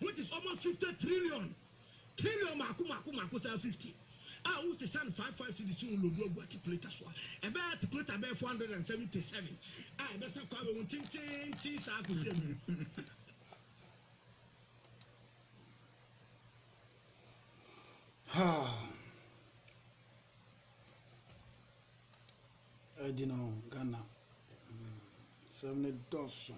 which is almost fifty trillion trillion mako mako mako saa fifty a wosesa no five five cedis wo lodu agu articulator so a ɛbɛyɛ articulator bɛyɛ four hundred and seventy seven a ɛbɛsa kɔ abɛhu tententen saa akɔsi awie ɛgyina hɔ ghana sɛm ne dɔso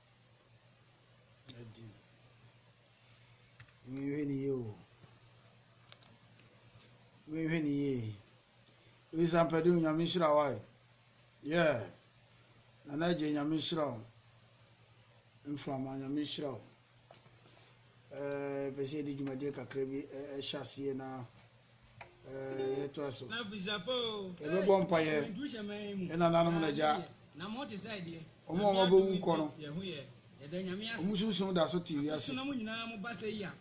Adi. Menhwɛ ne yie o. Menhwɛ ne yie. Ɔyisa mpɛde o nyame nhyira wa. Yɛ. Nana agye nyame nhyira o. Mframa nyame nhyira o. Ɛɛ pɛsɛ yɛde dwumadie kakra bi ɛhyɛ aseɛ na. yɛtoa so yɛbɛbɔ mpaeɛ ɛnananom no agya ɔma ɔma bɛwu kɔ no ɔmu sunsum da so te wiase agya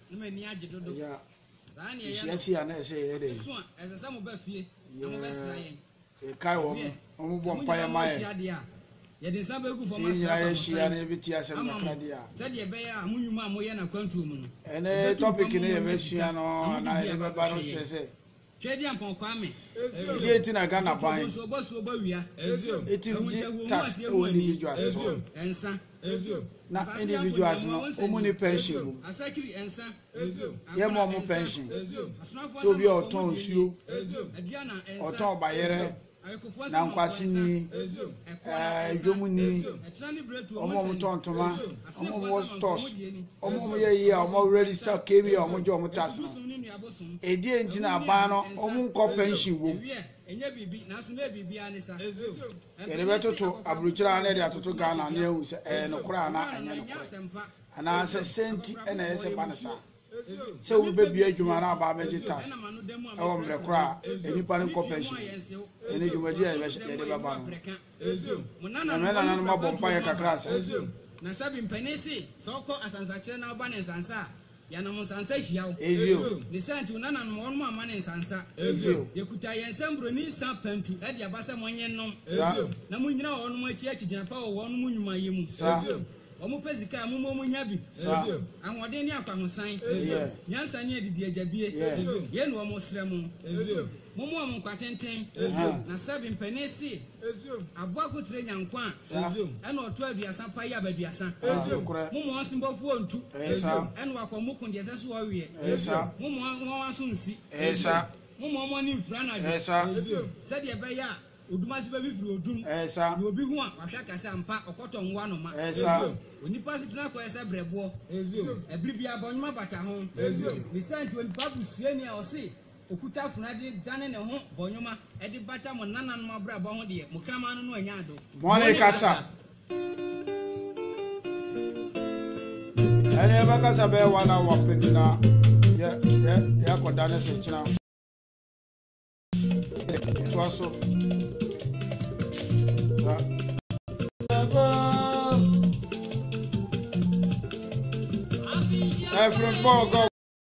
yɛhyia si a na ɛsɛ yɛyɛ dɛ yɛbɛsra Sɛ yɛkae wɔn, wɔbɔ mpaeɛ ma yɛn, sɛ yɛn nyinaa yɛhyia na yɛbɛtie asɛm kakra deɛ a, ɛne topic no yɛbɛsua no anaa yɛde bɛba no hyɛ sɛ ɛdeɛ nti na Ghana ban ɛtim gye tax wɔ individuals so na individuals no wɔn ni pension wɔ mu yɛ ma wɔn pension sɛ obi a ɔtɔn nsuo ɔtɔn bayerɛ nankwaseni ɛɛ dwomuni wɔn a wɔn tɔn ntoma wɔn a wɔn wɔ stores wɔn a wɔn yɛ yie a wɔn already sa kemi a wɔn gye wɔn tax no edi nti na aban no wɔn nkɔ pension wɔ mu. Yɛde bɛtoto aburokyire a na yɛde atoto Ghana na yɛahu sɛ ɛyɛ nokorɛ anaa ɛnyɛ nokorɛ. Anaasɛ sɛn nti na ɛyɛ sɛ ɛba no saa? Sɛ obi bɛbue adwuma na aba abɛgye tax wɔ mmerɛ korɔ a, nnipa no nkɔ pension. Ɛno dwumadie a yɛde bɛba no ho. Na me nananom abɔ mpaeɛ kakra sɛ. Yɛnom nsansa hyiaw. Ezio. Ne saa nti, wo nananom wɔnom amma no nsansa. Ezio. Yɛkuta yɛn nsam buroni nsa pantu de aba sɛ monnye nnom. Sa. Ezio. Na monnyina wɔnom akyi akyi gyina pa wɔ wɔnom nnwuma yi mu. Sa. Ezio. Wɔn pɛ sika a, mommɔ mo nya bi. Sa. Ezio. Ahoɔden ne akwahosan. Ezio. Nyansa ne adidie agyabie. Ezio. Yei na wɔsrɛ mo. Ezio. Mommoa mo nkwa tenten. Na sɛbe mpanin se aboa kotire nya nkwa a, ɛna ɔtɔ aduasa paye aba aduasa. Mommoa ɔsembɔfoɔ ntu, ɛna wakɔ mo ko deɛ ɛsɛ se ɔweɛ. Mommoa nwanwa nso nsi. Mommoa mo ani mfiri anadwo, sɛdeɛ ɛbɛyɛ a odum ase bɛfifiri odum, na obi hu a, wahwɛ aka se, Ampa ɔkɔtɔ nwo ano ma. Onipa asetena kɔ yɛ sɛ berɛboɔ. Ɛbere biara bɔnwoma bata ho. Ne saa nti, onipa busuani a ɔse Okuta funadi dane ne ho bɔ nwoma de bata mo nananom abrabɔ ho deɛ, mo kraman no no anya ado. Mone kasa. Ɛne yɛbɛkasa bɛyɛ one hour pɛ bi na yɛ yɛ yɛakɔdane so kyena. Toa so. Ɛfiri bɔɔgɔ.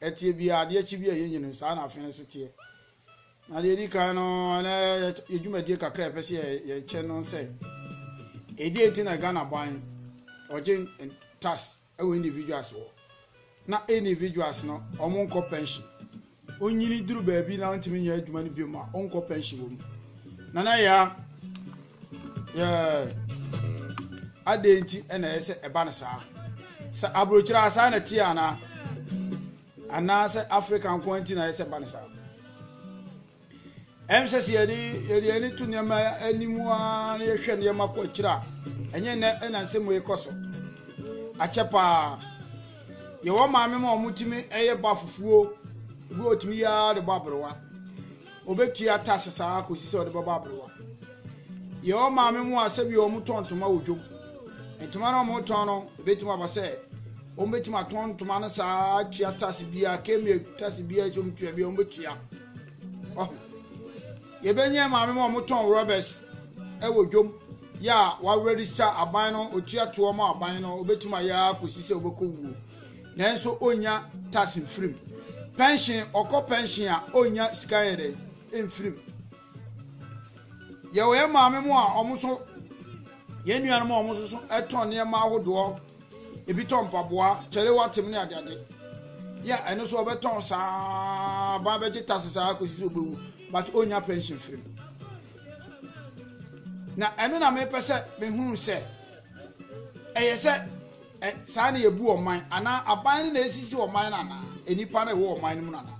Ɛteɛ biara, adeɛ akyi biara yɛnyɛ no, saa na afei nso teɛ. Na deɛ ɛdi kan no, ɛnɛ yɛ dwumadie kakra a ɛpɛ sɛ yɛkyɛ no sɛ, ɛdeɛ nti na Ghana ban ɔgye tax wɔ individuals wɔ na individuals no wɔn nkɔ pension onyini duru baabi na ntumi nyɛ adwuma no bio ma ɔnkɔ pension wɔ mu nana ya Yeah. Adɛn nti na ɛyɛ sɛ ɛba no saa? Sɛ aburokyerɛ a saa na ɛteɛ anaa? Anaasɛ Africa nko ara nti na ɛyɛ sɛ ɛba no saa? Ɛm sɛ sɛ yɛde yɛde ani to nneɛma anim a na yɛhwɛ nneɛma kɔ akyire a ɛnyɛ nnɛ ɛna nsɛm yi kɔ so. Akyɛ paa. Yɛwɔ maame ma wɔtumi ɛyɛ ba fufuo. Ebi wɔtumi yɛ ara de bɔ aberewa. Obetua tax saa ara kosi sɛ ɔde bɛbɔ aberewa. Yɛwɔ maame mu a sɛbi wɔtɔ ntoma wɔ dwom. Ntoma no wɔtɔn no, ebetumi aba sɛ wɔbetumi atɔn ntoma no saa ara atua tax biara, kmie tax biara sɛ wɔtua biara wɔbetua. Ɔho. Yɛbɛnyɛ maame mu a wɔtɔn rɔbɛs wɔ dwom yɛ a wɔawerɛdisa aban no, otua toɔ ma aban no, obetumi ayɛ ara kosi sɛ ɔbɛkɔ wuo. Nanso onnya tax mfiri mu. Pɛnhyen, ɔkɔ pɛnhyen a, onnya sika nyɛ dɛn? Mfiri mu. Yɛwɔ yɛn maame mu a wɔn nso, yɛn nuanom a wɔn nso so tɔn nneɛma ahodoɔ, ebi tɔn mpaboa, kyɛre watem ne adeade. Yɛ ɛno nso ɔbɛtɔn saa, ban bɛgye tax saa kɔsi sɛ ɔbɛwu, but onnya pɛnhyen mfiri mu. Na ɛno na mepɛ sɛ mehunu sɛ, ɛyɛ sɛ Ɛ, saa na yɛbu ɔman anaa aban no na ɛresisi ɔman no anaa nnipa no a ɛwɔ ɔman no mu no anaa?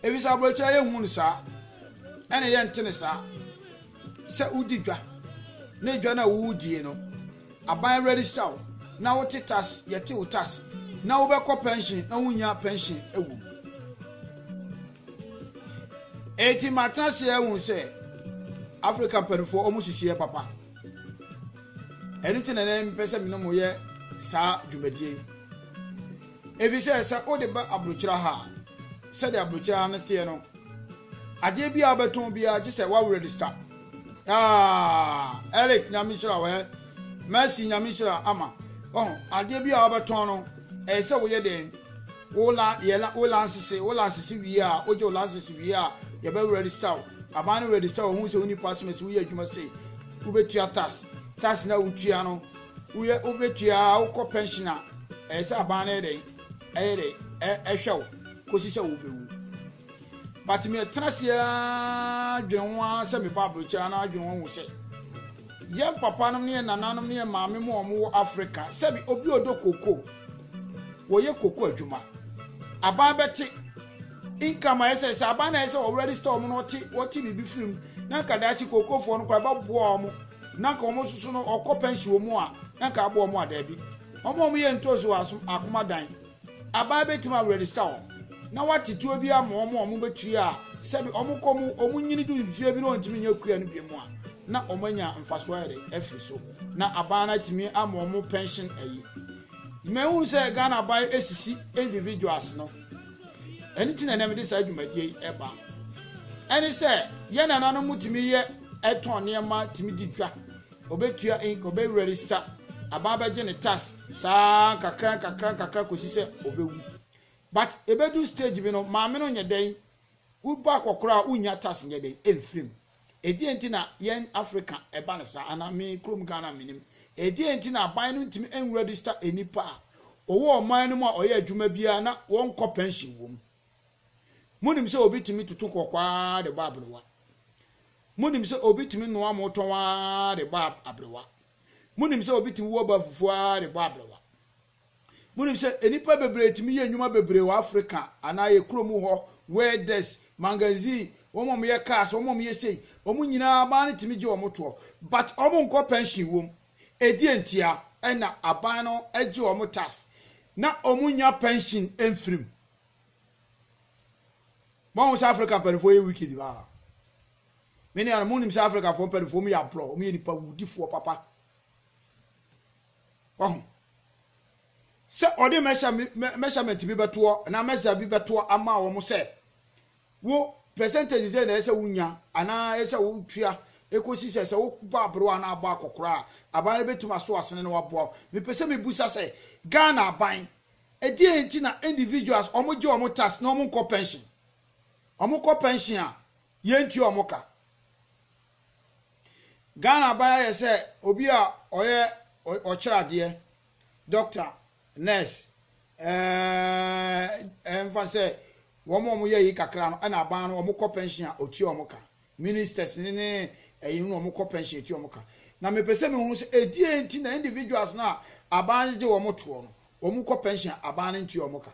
Ɛfiri sɛ aborɔkyerɛ yɛnhu no saa, ɛne yɛnte no saa. Sɛ wodi dwa na dwa no a wodie no, aban awurade sisa wo na wote tas, yɛte wo tas, na wobɛkɔ pɛnhyen na wonya pɛnhyen wɔ mu. Eti matena ase ahunu sɛ Afrika mpanimfoɔ wɔn sisiɛ papa. ɛno nti na na mpɛ sɛ mene mo yɛ saa dwumadie yi efi sɛ sɛ wode ba aburokyira ha a sɛdeɛ aburokyira ha no teɛ no adeɛ bi a wobɛtɔn biara gye sɛ woawo register ah, eric nyame hyira wɛ mercy nyame hyira ama ɔho adeɛ bi a wobɛtɔn no ɛyɛ sɛ woyɛ dɛn Wo la yɛ la wo lansese wo lansese wie a wogye wo lansese wie a yɛbɛ register wo aban no register wo ho sɛ wo nipa asom ɛsɛ woyɛ adwuma sei wobɛtua tax tax na wotua no woyɛ wobɛtua wokɔ pension a ɛyɛ sɛ aban no yɛ dɛn ɛyɛ dɛn ɛhwɛ wo kɔsi sɛ wobɛwu but me ɛtena seɛ dwene ho ara sɛ meba aburokyɛ na adwene ho sɛ yɛn papa nom ne yɛn nananom ne yɛn maame mu a wɔwɔ Africa sɛbi obi ɔdɔ koko Wɔyɛ koko adwuma. Aban bɛte income a ɛsɛ sɛ aban na ɛsɛ wɔ register wɔn na wɔte wɔte biribi firi mu na nka daakye kokofoɔ no koraa bɛboa wɔn na nka wɔn soso no ɔkɔ pension wɔn a na nka aboa wɔn a daabi wɔn a wɔyɛ ntoosi wɔ asom akoma dan aban bɛtumi a register wɔn na wɔate tuo bi ama wɔn a wɔn bɛtue a sɛbi wɔn kɔ wɔn nyini du mfie bi na wɔntumi nyɛ kua no bi mu a na wɔn anya mfasoɔ ayɛ de afiri so. na aban no atumi ama wɔn pension ayi mehu sɛ ghana aban esisi individuals no ɛno ti na ɛnam de saa dwumadie yi ɛba ɛne sɛ yɛn nananom mu tumi yɛ ɛtɔn nneɛma tumi di dwa ɔbɛtua ink ɔbɛwura register aban bɛgye ne tax saa kakra kakra kakra kɔsi sɛ ɔbɛwu but ɛbɛdu stage bi no maame no nyɛ dɛn woba akɔkora a wonya tax nyɛ dɛn ɛmfirim Ɛdeɛn nti na yɛn Africa ɛba no saa anaa me kurom Ghana menim. Ɛdeɛn nti na aban no ntumi nregister nnipa a wɔwɔ ɔman no mu a ɔyɛ adwuma biara na wɔnkɔ pension wɔ mu. Monim sɛ obi tumi toto kɔkɔɔ ara de bɔ aberewa. Monim sɛ obi tumi noa mo tɔn ara de bɔ aberewa. Monim sɛ obi tumi wɔ ba fufuo ara de bɔ aberewa. Monim sɛ nnipa bebree tumi yɛ nnwuma bebree wɔ Afrika anaa yɛ kurom hɔ, welders, magazine, wɔn a wɔyɛ cars, wɔn a wɔyɛ sei, wɔn nyinaa aban no tumi gye wɔn toɔ but wɔn nkɔ pension wom. Ɛdeɛn ntia? Ɛna aban no gye wɔn tax na wɔn nnya pension mfirim. Moahu sɛ Afrika mpanimfoɔ yɛ wicked paa. Me nuanom, monim sɛ Afrikafoɔ mpanimfoɔ wɔn yɛ aborɔ, wɔn yɛ nipa wudifoɔ papa. Wahu? Sɛ ɔde measurement bi bɛtoɔ anaa measure bi bɛtoɔ ama wɔn sɛ wo percentage sɛ na ɛsɛ wonya anaa ɛsɛ wotua ɛkɔsi sɛ sɛ wobɔ aberewa anaa abɔ akɔkora a aban no bɛtumi aso asene na waboa wo. Mepɛ sɛ mebusa sɛ Ghana aban ɛdeɛ nti na individuals wɔn gye wɔn tax na wɔn nkɔ pension? Wɔn kɔ pension a Yɛntua ɔmo ka. Ghana aban ayɛ sɛ obi a ɔyɛ ɔkyerɛ adeɛ, doctor, nurse, ɛɛɛɛɛ ɛmfa sɛ wɔn a wɔyɛ yi kakra no ɛna aban no wɔkɔ pension a ɔtua wɔn ka. Ministers ne ne ɛyi no wɔkɔ pension tua wɔn ka. Na mepɛ sɛ mehu sɛ ɛdeɛn nti na individuals no a aban no gye wɔn toɔ no wɔkɔ pension a aban no ntua wɔn ka.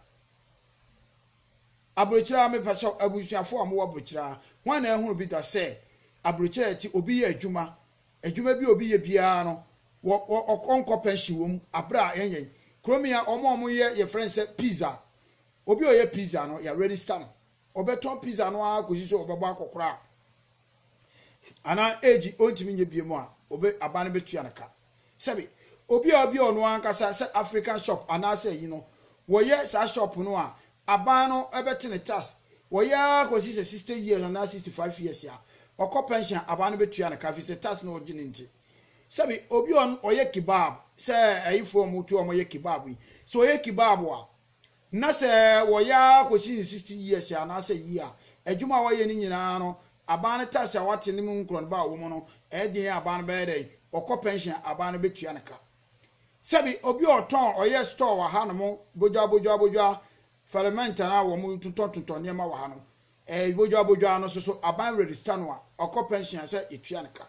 Abrokyira, Mepakyɛw abusuafo a mowɔ Abrokyira, hwan na ahunu bi da sɛ Abrokyira a ɛte obi yɛ adwuma, adwuma bi a obi yɛ biara no ɔnkɔ pɛnhyen wom bere a yɛn yɛn kurom yi a wɔn a wɔyɛ yɛfrɛ no sɛ pizza, obi a ɔyɛ pizza no yɛarɛdista no, ɔbɛtɔn pizza no ara kosi sɛ ɔbɛbɔ akɔkora. anaa age ɔntumi nyɛ biom a, obe aban no bɛtua no ka. Sɛbe, obi a ɔbia ɔno ankasa sɛ African shop anaasɛ ayi no, wɔyɛ saa shop no a, aban no bɛte ne tax, wɔyɛ ara kɔsi sɛ 60 years anaa 65 years a, ɔkɔ pension a, aban no bɛtua no ka firi sɛ tax na ɔgye no nti. Sɛbe, obi a ɔyɛ kebab, sɛ ayifoɔ a wɔtu a wɔyɛ kebab yi, sɛ ɔyɛ kebab a, Na sɛ wɔyɛ ara kosi ne sixty years anaasɛ yie a, adwuma a wɔyɛ no nyinaa no, aban no tax a wɔate no mu nkorɔnoba a ɔwɔ mu no, ɛyɛ den a aban no bɛyɛ dɛn? Ɔkɔ pension a, aban no bɛtua no ka. Sɛbi, obi a ɔtɔn, ɔyɛ store wɔ hanom, bodwa, bodwa, bodwa, fɛrɛmɛnt anaa wɔtotɔtotɔ nneɛma wɔ ha no, Ɛɛ bodwoabodwoa no soso aban register no a ɔkɔ pension a sɛ yɛtua no ka.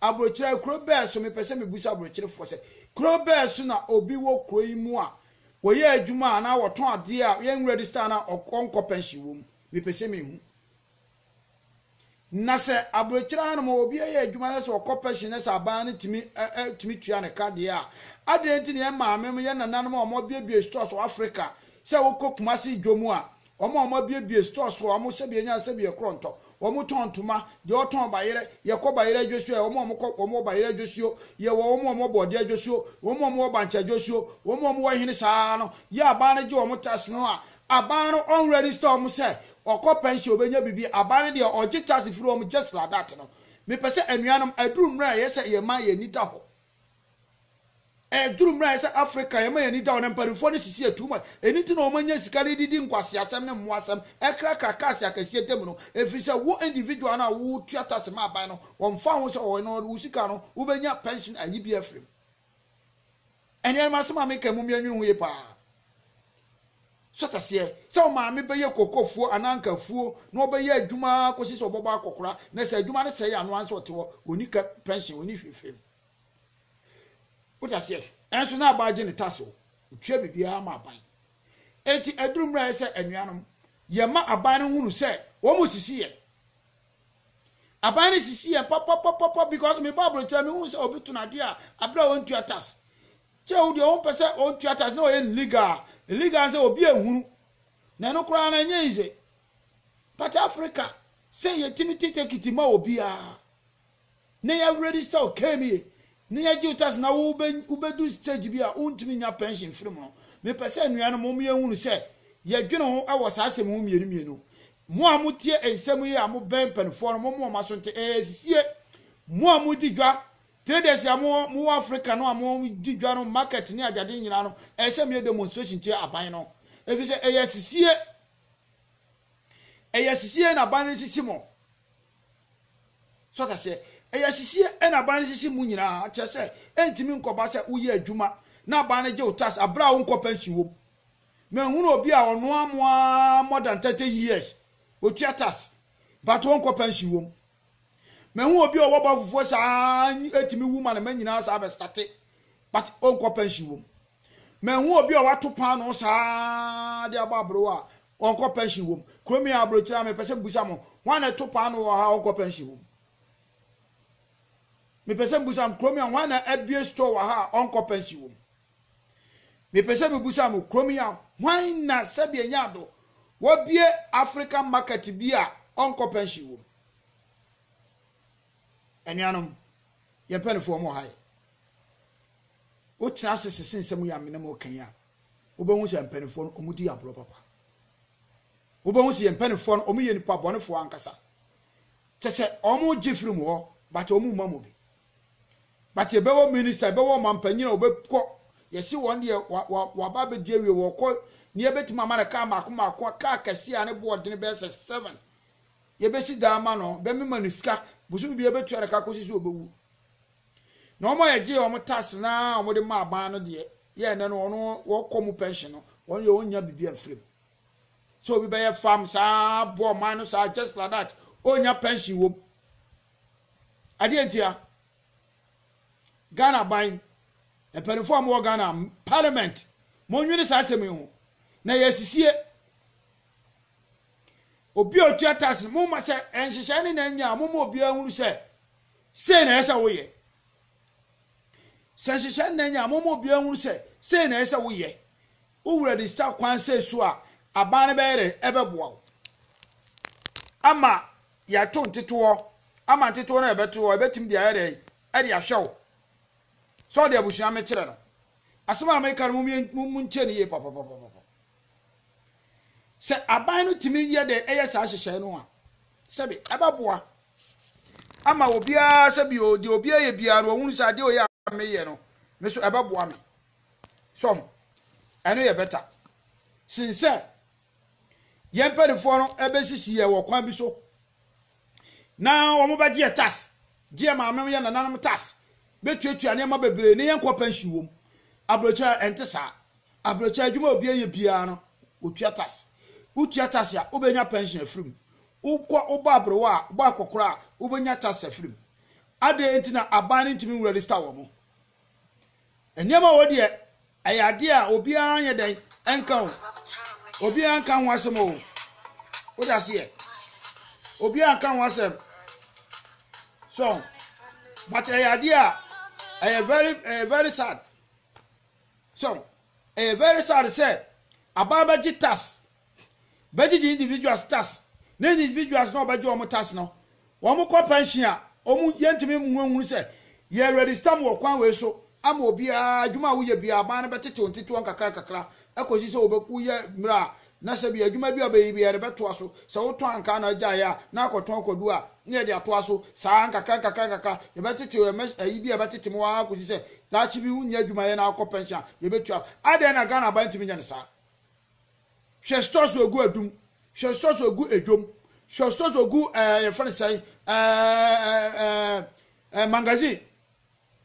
Abrokyire kuro bɛɛ so mepɛ sɛ mebisa abrokyerefoɔ sɛ kuro bɛɛ so na obi wɔ kuro yi mu a wɔyɛ adwuma anaa wɔtɔn adeɛ a yɛn register no a ɔnkɔ pension wɔ mu mepɛ sɛ mehu na sɛ abrokyire ha nom obi yɛ adwuma na sɛ ɔkɔ pension na sɛ aban no tumi tumi tua ne ka deɛ a adɛn nti na yɛn maame yɛn nananom a wɔabiabie stores wɔ Africa sɛ wokɔ Kumasi dwa mu a Wɔn a wɔabuebue store so a wɔhyɛ deɛ nya sɛ bi yɛ korɔntɔ, wɔtɔn ntoma, deɛ ɔtɔn bayerɛ, yɛkɔ bayerɛ adwosuo ayɛ, wɔn a wɔkɔ wɔn wɔ bayerɛ adwosuo, yɛwɔ wɔn a wɔwɔ bɔɔdeɛ adwosuo, wɔn a wɔwɔ bankye adwosuo, wɔn a wɔwɔ hene saa ara no yɛ aban no gye wɔn tax no a, aban no ɔn register wɔn sɛ ɔkɔ pension ɔbɛnya biribi, aban no deɛ ɔgye tax firi wɔn just like that no. Mepɛ sɛ anuanom, aduru mmerɛ a ɛyɛ sɛ yɛn man yɛn ani da hɔ. Ɛduru mmerɛ a ɛsɛ sɛ Africa yɛma yɛn ani da hɔ no, mpanimfoɔ no sisi yɛ too much. Ɛno nti na wɔnya sika de didi nkwaseasɛm ne mmoasɛm, krakra cars akɛseɛ da mu no. Ɛfiri sɛ wo individual no a wotua tax ma aban no, wɔmfa ho sɛ ɔwɔ no, wo sika no wobɛnya pension ayi biara afiri mu. Anuanom asɛm a meka yi mommyɛ nnwene ho yie paa. So te aseɛ sɛ wo maame bɛyɛ kookofuo anaa anka afuo na ɔbɛyɛ adwuma ara kɔsi sɛ ɔbɛbɔ akɔkora na sɛ adwuma no sɛe a no ara nso ɔte hɔ, ɔnni ka pɛnhyen, ɔnni hwee fam. Wo te aseɛ? Ɛnso na aban gye ne tax o, ɔtua biribiara ma aban. Enti aduru mmerɛ a ɛyɛ sɛ anuanom yɛma aban no hunu sɛ wɔn sisi yɛn. Aban no sisi yɛn papapapapa because meba aburokyire a mehu sɛ obi tɔn adeɛ a aberɛ a ɔntua tax Kyɛ wo deɛ wompɛ sɛ ɔntua tax na ɔyɛ no legal a, legal ne sɛ obi anhunu na ɛno koraa no ɛnyɛ easy but Africa sɛ yɛtumi te tekiti ma obiara na yɛ register wo KMA na yɛgye wo tax na wobɛdu stage bi a wontumi nya pension firi mu no mepɛ sɛ nnuanom mo yɛnhunu sɛ yɛdwene ho wɔ saa asɛm ho mmienu mmienu mo a motie nsɛm yi a mobɛn mpanimfoɔ no mo mo wɔn aso nte ɛyɛ asisie mo a modi dwa Traders a mowɔ mowɔ Africa no a mo di dwa no market ne adwade nyinaa no ɛyɛ sɛ moyɛ demonstration tia aban no ɛfiri sɛ ɛyɛ asisie ɛyɛ asisie na aban no sisi mo so ata sɛ ɛyɛ asisie na aban no sisi mo nyinaa kyerɛ sɛ ɛntumi nkɔba sɛ woyɛ adwuma na aban no gye wo tax aberɛ a wonkɔ pension wom mahunu obi a ɔnoa mo a more than 30 years otua tax but wonkɔ pension wom Mehu obi a ɔwɔ ba fufuo saa ɛtumi wu ma ne ma nyinaa saa bɛ state but ɔnkɔ pension wɔ mu. Mehu obi a wato paano saa de abɔ aboro a ɔnkɔ pension wɔ mu. Kurom yɛ aburokyire a mepɛ sɛ mbusa mo hwan na ɛto paano wɔ ha ɔnkɔ pension wɔ mu. Mepɛ sɛ mbusa mo kurom yɛ hwan na abue store wɔ ha ɔnkɔ pension wɔ mu. Mepɛ sɛ mebisa mo, kurom yi a, hwan na sɛdeɛ ɛnyɛ ado wɔbue African market bi a ɔnkɔ pension wɔ mu? Anuanom, yɛn mpanimfoɔ wɔn wɔ ha yi. Wotena ase sese nsɛm yi a me ne mo reka yi a, wobɛhu sɛ mpanimfoɔ no wɔdi agorɔ papa. Wobɛhu sɛ yɛn mpanimfoɔ no wɔyɛ nipa bɔnefoɔ ankasa. Kyɛ sɛ wɔgye firi mo hɔ, but wɔmma mo bi. but yɛbɛwɔ minister yɛbɛwɔ ɔmampanyin a wɔbɛkɔ yɛsi wɔn deɛ waba abɛdi awie wɔkɔ ne yɛbɛtumi ama no kaa mako mako kaa kɛseɛ a ne boɔ ɔdene bɛyɛ sɛ seven yɛbɛsi daa ma no bɛmi ma no sika bosom bi yɛbɛtua no ka kɔsi so ɔbɛwu na wɔn a yɛgye wɔn tax na wɔn de ma aban no deɛ yɛ ɛnɛ no wɔn wɔkɔ mu pension no wɔn yɛ wɔn nya biribi amfirim sɛ obi bɛyɛ farm saa bɔ ɔman no saa just like that ɔnya pension wɔm. Adeɛ ntia, Ghana ban, mpanyinfoɔ a wɔwɔ Ghana parliament, monnwene saa asɛm yi ho. Na yɛ asisie. Obi a ɔtua tax no, momma sɛ nhyehyɛe no na anya a, momma obiara hunu sɛ sei na ɛyɛ sɛ woyɛ. Sɛ nhyehyɛe no na anya a, momma obiara hunu sɛ sei na ɛyɛ sɛ woyɛ. Wo wura de sika kwan sɛ so a, aban no bɛyɛ dɛ ɛbɛboa wo ama yɛto nteteɔ ama nteteɔ no a yɛbɛto hɔ ɛbɛtumi de ayɛ dɛn ɛde ahwɛ wo sɛ ɔde abusua mekyerɛ no asɛm a meka no mu mu ntie no yie pɔpɔpɔpɔpɔ sɛ aban no tumi yɛ dɛn ɛyɛ saa hyehyɛe no a sɛbi ɛbɛboa ama obiara sɛ bi o deɛ obiara yɛ biara no ɔhunu sɛ adeɛ ɔyɛ a meyɛ no me so ɛbɛboa me sɔho ɛno yɛ bɛta sin sɛ Yɛn mpanimfoɔ no bɛsisi yɛn wɔ kwan bi so, na wɔbɛgye yɛn tax, gye yɛn maame yɛn nananom tax, bɛtuatua nneɛma bebree ne yɛnkɔ pension wɔ mu. Aburokyire a ɛnte saa. Aburokyire adwuma a obiara yɛ biara no, wɔtua tax. Wotua tax a, wobɛnya pension afiri mu. Wokɔ wobɔ aberewa a, wobɔ akɔkora a, wobɛnya tax afiri mu. Adɛn nti na aban no ntumi nwura register wɔn? Nneɛma a wɔdeɛ ɛyɛ adeɛ a obiara nyɛ dɛn nka o. Obiara nka ho asɛm o. Wode aseɛ. Obiara nka ho asɛm. So, but ɛyɛ adeɛ a ɛyɛ very ɛyɛ very sad. So, ɛyɛ very sad sɛ abaa bɛgye tax bɛgyegye individuals tax ne individuals na wɔbɛgye wɔn tax no wɔn kɔ pension a wɔn yɛntumi nhunu sɛ yɛ register mu wɔ kwan wei so ama obiara adwuma a woyɛ biara aban no bɛtetew ntetew nkakra nkakra ɛkɔsi sɛ wɔbɛku yɛ mmerɛ a na sɛ bi adwuma bi a ɔbɛyi bi yɛde bɛtoa so sɛ wotɔn ankaa na agyaeɛ a na akɔtɔn akɔdu a na yɛde atoa so saa nkakra nkakra nkakra yɛbɛtetew ɛmɛ ayi bi a ɛbɛtete mu ara kɔsi sɛ daakye bi wonyɛ adwuma yɛ na akɔ pension a yɛbɛtua adɛn na Ghana aban ntumi nyɛ no saa Hwɛstɔs ogu adum, hwɛstɔs ogu edwom, hwɛstɔs ogu ɛɛ yɛfrɛ no sɛn ɛɛ ɛɛ magazine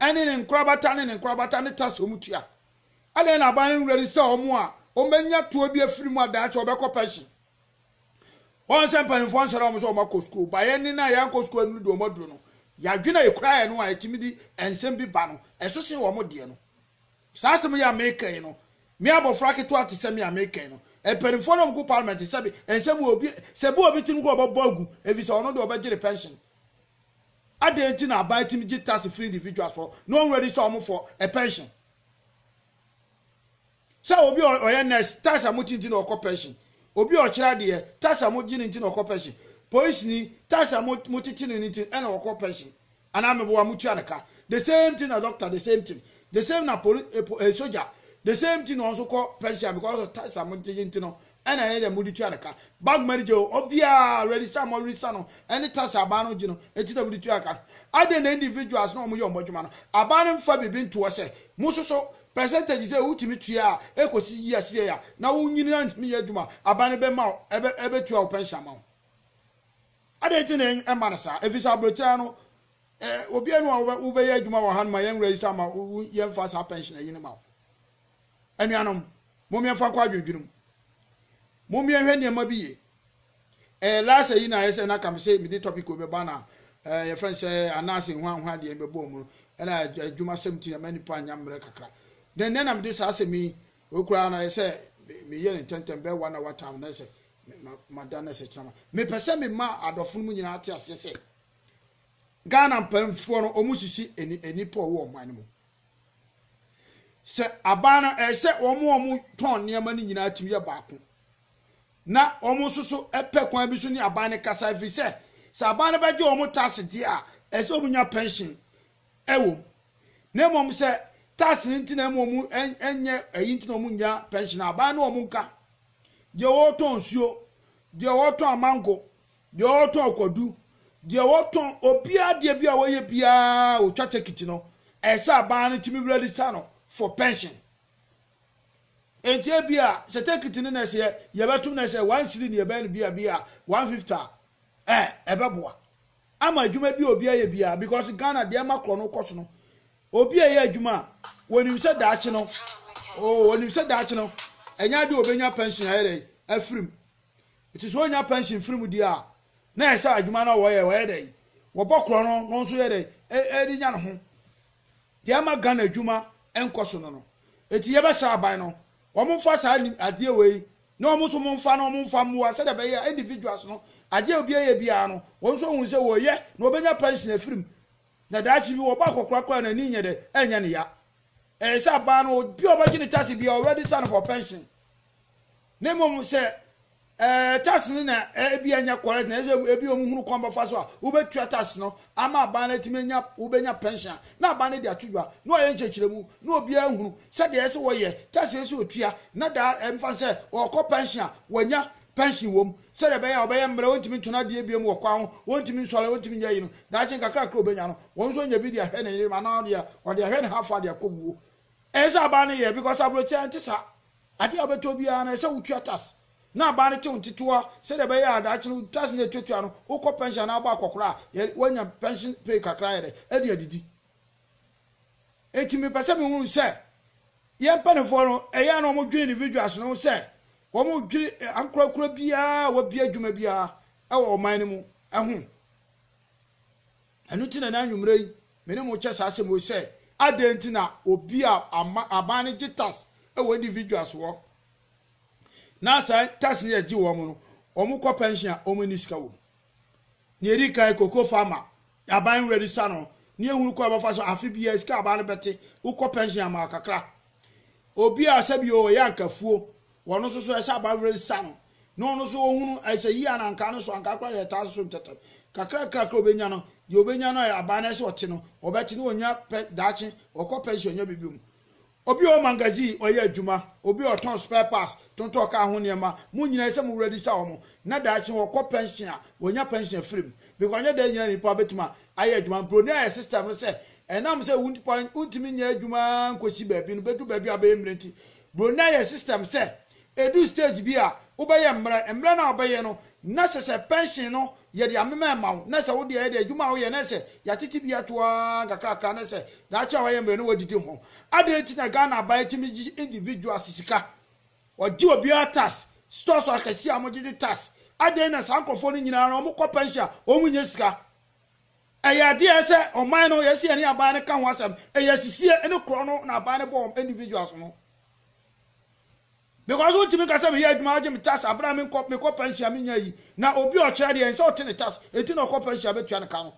ɛne ne nkorabata ne ne nkorabata ne tas wɔn tua. Adɛn na aban no nwura ni sɛ wɔn a wɔbɛnya toɔ bi afiri mu adan sɛ wɔbɛkɔ pɛnhyen. Wɔn sɛ mpanimfoɔ nsɔre wɔn sɛ wɔn akɔ sukuu ba yɛn ne no a yɛankɔ sukuu anuru deɛ wɔn aduru no. Yɛadwene a yɛkura yɛn no a yɛtumi de nsɛm bi ba no ɛso sen wɔn deɛ no. Saa asɛm yi a mereka yi no, me abɔfra ketewa te sɛ me a mereka yi no, mpanimfoɔ no a wɔgu Parliament no, sɛbe ɛnsɛ mu obi, sɛ ebu obi tirim koraa a, wɔbɛbɔ agu, efisɛ ɔno deɛ ɔbɛgye ne pension. Adɛn nti na aban tumi gye tax firi individuals hɔ na wɔn register wɔn for a pension? Sɛ obi a ɔyɛ nurse, tax a mogye nti na ɔkɔ pension. Obi a ɔkyerɛ adeɛ, tax a mogye no nti na ɔkɔ pension. Polisini, tax a mokyekye no no nti ɛna ɔkɔ pension. Anaa meboa mo tua no ka the same thing na doctor the same thing the same na poli eh soja the same thing na ɔnso kɔ pension because of tax a mo gyegye nti no ɛna ɛyɛ dɛ mo de tua no ka bank ma gye o obiara register mo register no ɛne tax a aban no gye no ɛti na mo de tua ka adɛn na individuals na ɔmo yɛ ɔmo adwuma no aban no mfa biribi ntoɔ sɛ mo nso so percentage sɛ wotumi tua a ɛkɔsi yi aseɛ a na wonyini antumi yɛ adwuma aban no bɛma ɛbɛ ɛbɛtua wo pension ma wo. Adɛn nti na ɛmma no saa? Ɛfiri sɛ aberɛtiran no, obiara nni hɔ a wobɛyɛ adwuma wɔ ha no ma yɛn werɛ yi saa ma wo, yɛmfa saa pɛnhyenɛ yi no ma wo. Anuanom, mom yɛmfa nkɔ adwendwene mu. Mom yɛnhwɛ nneɛma bi yie. Ɛɛ, last ayi na ayɛ sɛ na ka me se mede topic wei bɛba na ɛɛ yɛfrɛ no sɛ anaase nhuanhua deɛ bɛbɔ mu no, ɛna adwumasɛm nti na ma nnipa anya mmerɛ kakra. Dɛn nɛ na mede saa asɛm yi Wei koraa no ayɛ sɛ meyɛ no ntɛmntɛm bɛyɛ one hour time na sɛ mada no sɛkyerɛma mepɛ sɛ mema adɔfo no mu nyinaa te aseɛ sɛ ghana mpanimfoɔ no wɔn sisi nnipa a wɔwɔ ɔman no mu sɛ aban no ɛyɛ sɛ wɔn wɔn tɔn nneɛma no nyinaa tumi yɛ baako na wɔn nso so pɛ kwan bi so ne aban no kasa ɛfiri sɛ sɛ aban no bɛgye wɔn tax deɛ a ɛsɛ wɔn nya pension wom, na mmom sɛ tax no nti na mmom ɛnyɛ ɛyi nti na wɔnnya pension a, aban ne wɔn nka. Deɛ ɔretɔn nsuo, deɛ ɔretɔn amango, deɛ ɔretɔn kwadu, deɛ ɔretɔn obiara deɛ bi a wɔyɛ biara wɔtwa tekiti no, ɛyɛ sɛ aban no tumi register no for pension. Enti ebi a sɛ tekiti no na ɛsɛ yɛbɛtum na ɛsɛ one cedi na yɛbɛyɛ no bi a bi a one fifty a, ɛɛ ɛbɛboa. ama adwuma bi a obi ayɛ biara because Ghana deɛ ɛma korɔ no kɔ so no obi a ɛyɛ adwuma a wɔnim sɛ daakye no oo oh, wɔnim sɛ daakye no ɛnyɛ adeɛ obɛnya pension ayɛ dɛ afirim ɛti sɛ ɔnya pension firim deɛ a na ɛsɛ sɛ adwuma no wɔyɛ wɔyɛ dɛ wɔbɔ korɔ no no nso yɛ dɛ ɛde nya ne ho deɛ ɛma Ghana adwuma nkɔ so no no ɛti yɛbɛhyɛ aban no Wɔmfa saa nim adeɛ wei na wɔn nso momfa na wɔmfa mmoa sɛdeɛ ɛbɛyɛ a individuals no adeɛ a obiara yɛ biara no wɔn nso ahunu sɛ wɔyɛ na wɔbɛnya pension afiri mu na daakye bi wɔba akɔkora koraa na ani nyɛ dɛ ɛnyɛ ne ya ɛyɛ sɛ abaa no obi a ɔbɛgye ne tax biara already sane for pension na mmom sɛ Eh, tax no na eh, ebi ɛnyɛ correct na ɛsɛ ebi wɔn hunu kwan bɛfa so a wobɛtua tax no ama aban no atumi anya wobɛnya pension a na aban no de ato dwa na ɔyɛ nkyɛkyerɛmu na obiara hunu sɛdeɛ ɛsɛ wɔyɛ tax ɛsɛ otua na daa ɛmfa sɛ ɔkɔ pension a wanya pension wɔm sɛdeɛ ɛbɛyɛ a ɔbɛyɛ mmerɛ wɔntumi ntona adeɛ biam wɔ kwan ho wɔntumi nsɔre wɔntumi nyɛ yi no daakye nkakrakra obɛnya no wɔn nso nya bi de ahwɛ ne yere ma na ɔdeɛ ɔde ahwɛ ne hafa de akɔ wuo ɛsɛ aban no yɛ because aburokyerɛ nte saa Ade a wobɛtɔ biara no, ɛsɛ sɛ wutua tax, na aban no te wo ntetewa sɛnea ɛbɛyɛ a daakye no tax no a etuatua no, wokɔ pɛnhyen anaa wobɔ akwakoraa a, yɛ woanya pɛnhyen pay kakra ayɛ dɛ adi adidi. Enti mepɛ sɛ mihu sɛ yɛn mpanimfoɔ no, ɛyɛ a na wɔdwene individuals no ho sɛ wɔdwene eh, ankorankora biara a wabue adwuma biara wɔ ɔman no mu ho. Ɛno nti na ɛnnɛ anwummerɛ yi me ne mo rekyɛ saa asɛm wei sɛ, adɛn nti na obi a ama, aban no gye tax wɔ individuals hɔ, na saa tax no yɛgye wɔn no, wɔn kɔ pension a, wɔn nni sika wɔ mu. Nea ɛdi kan, cocoa farmer, aban no register no, ne ehunu kɔ a ɛbɛfa so, afe biara sika aban no bɛte, wokɔ pension ama kakra. Obi a sɛbi o, ɔyɛ ankafuo, Wɔn nso so ɛsɛ aba were sa no na ɔno nso ɔhunu ɛsɛ yie a na anka no so anka koraa deɛ ɛtaa soso ntɛtɛ kakrakra kra ɔbɛnya no deɛ ɔbɛnya no a aba no ɛsɛ ɔte no ɔbɛte na ɔnya pɛ daakye ɔkɔ pɛnsi ɔnya biribi mu obi ɔwɔ magazine ɔyɛ adwuma obi ɔtɔn spare parts tontɔn kaa ho nneɛma mo nyinaa ɛsɛ mo wuradi sa wɔn na daakye ɔkɔ pɛnsi a ɔnya pɛnsi afiri mu bikɔ ɔnyɛ dɛn nyinaa nipa bɛtumi ayɛ adwuma mproni ayɛ system no sɛ ɛnam sɛ wontumi nyɛ adwuma nkɔsi baabi no bɛdu baabi a bɛyɛ mmerɛ nti Bronya yɛ system sɛ ɛdu stage bi a wobɛyɛ mmerɛ, mmerɛ no a wobɛyɛ no na sɛ sɛ pension no yɛde amema ɛma wo na sɛ wo deɛ ɛyɛ dɛ adwuma a woyɛ na sɛ yɛatete bi ato ara nkakrakra na sɛ daakye a wayɛ mmerɛ no wadidi ho. Adɛn nti na Ghana aban tumi gye individuals sika? Wɔgye obiara tax, stores akɛseɛ a wɔgyegye tax, adɛn na saa nkorɔfoɔ no nyinaa no wɔkɔ pension a wɔnnya sika? Ɛyɛ adeɛ sɛ ɔman no yɛsi ɛne aban no ka ho asɛm ɛyɛ asisie ɛne korɔ no na aban no bɔ wɔn individuals no because wontumi nka sɛ meyɛ adwuma agye me tax abere a menkɔ mekɔ pension a menya yi na obi ɔkyerɛ deɛ ɛnsɛ ɔte ne tax enti na ɔkɔ pension a bɛtua ne ka no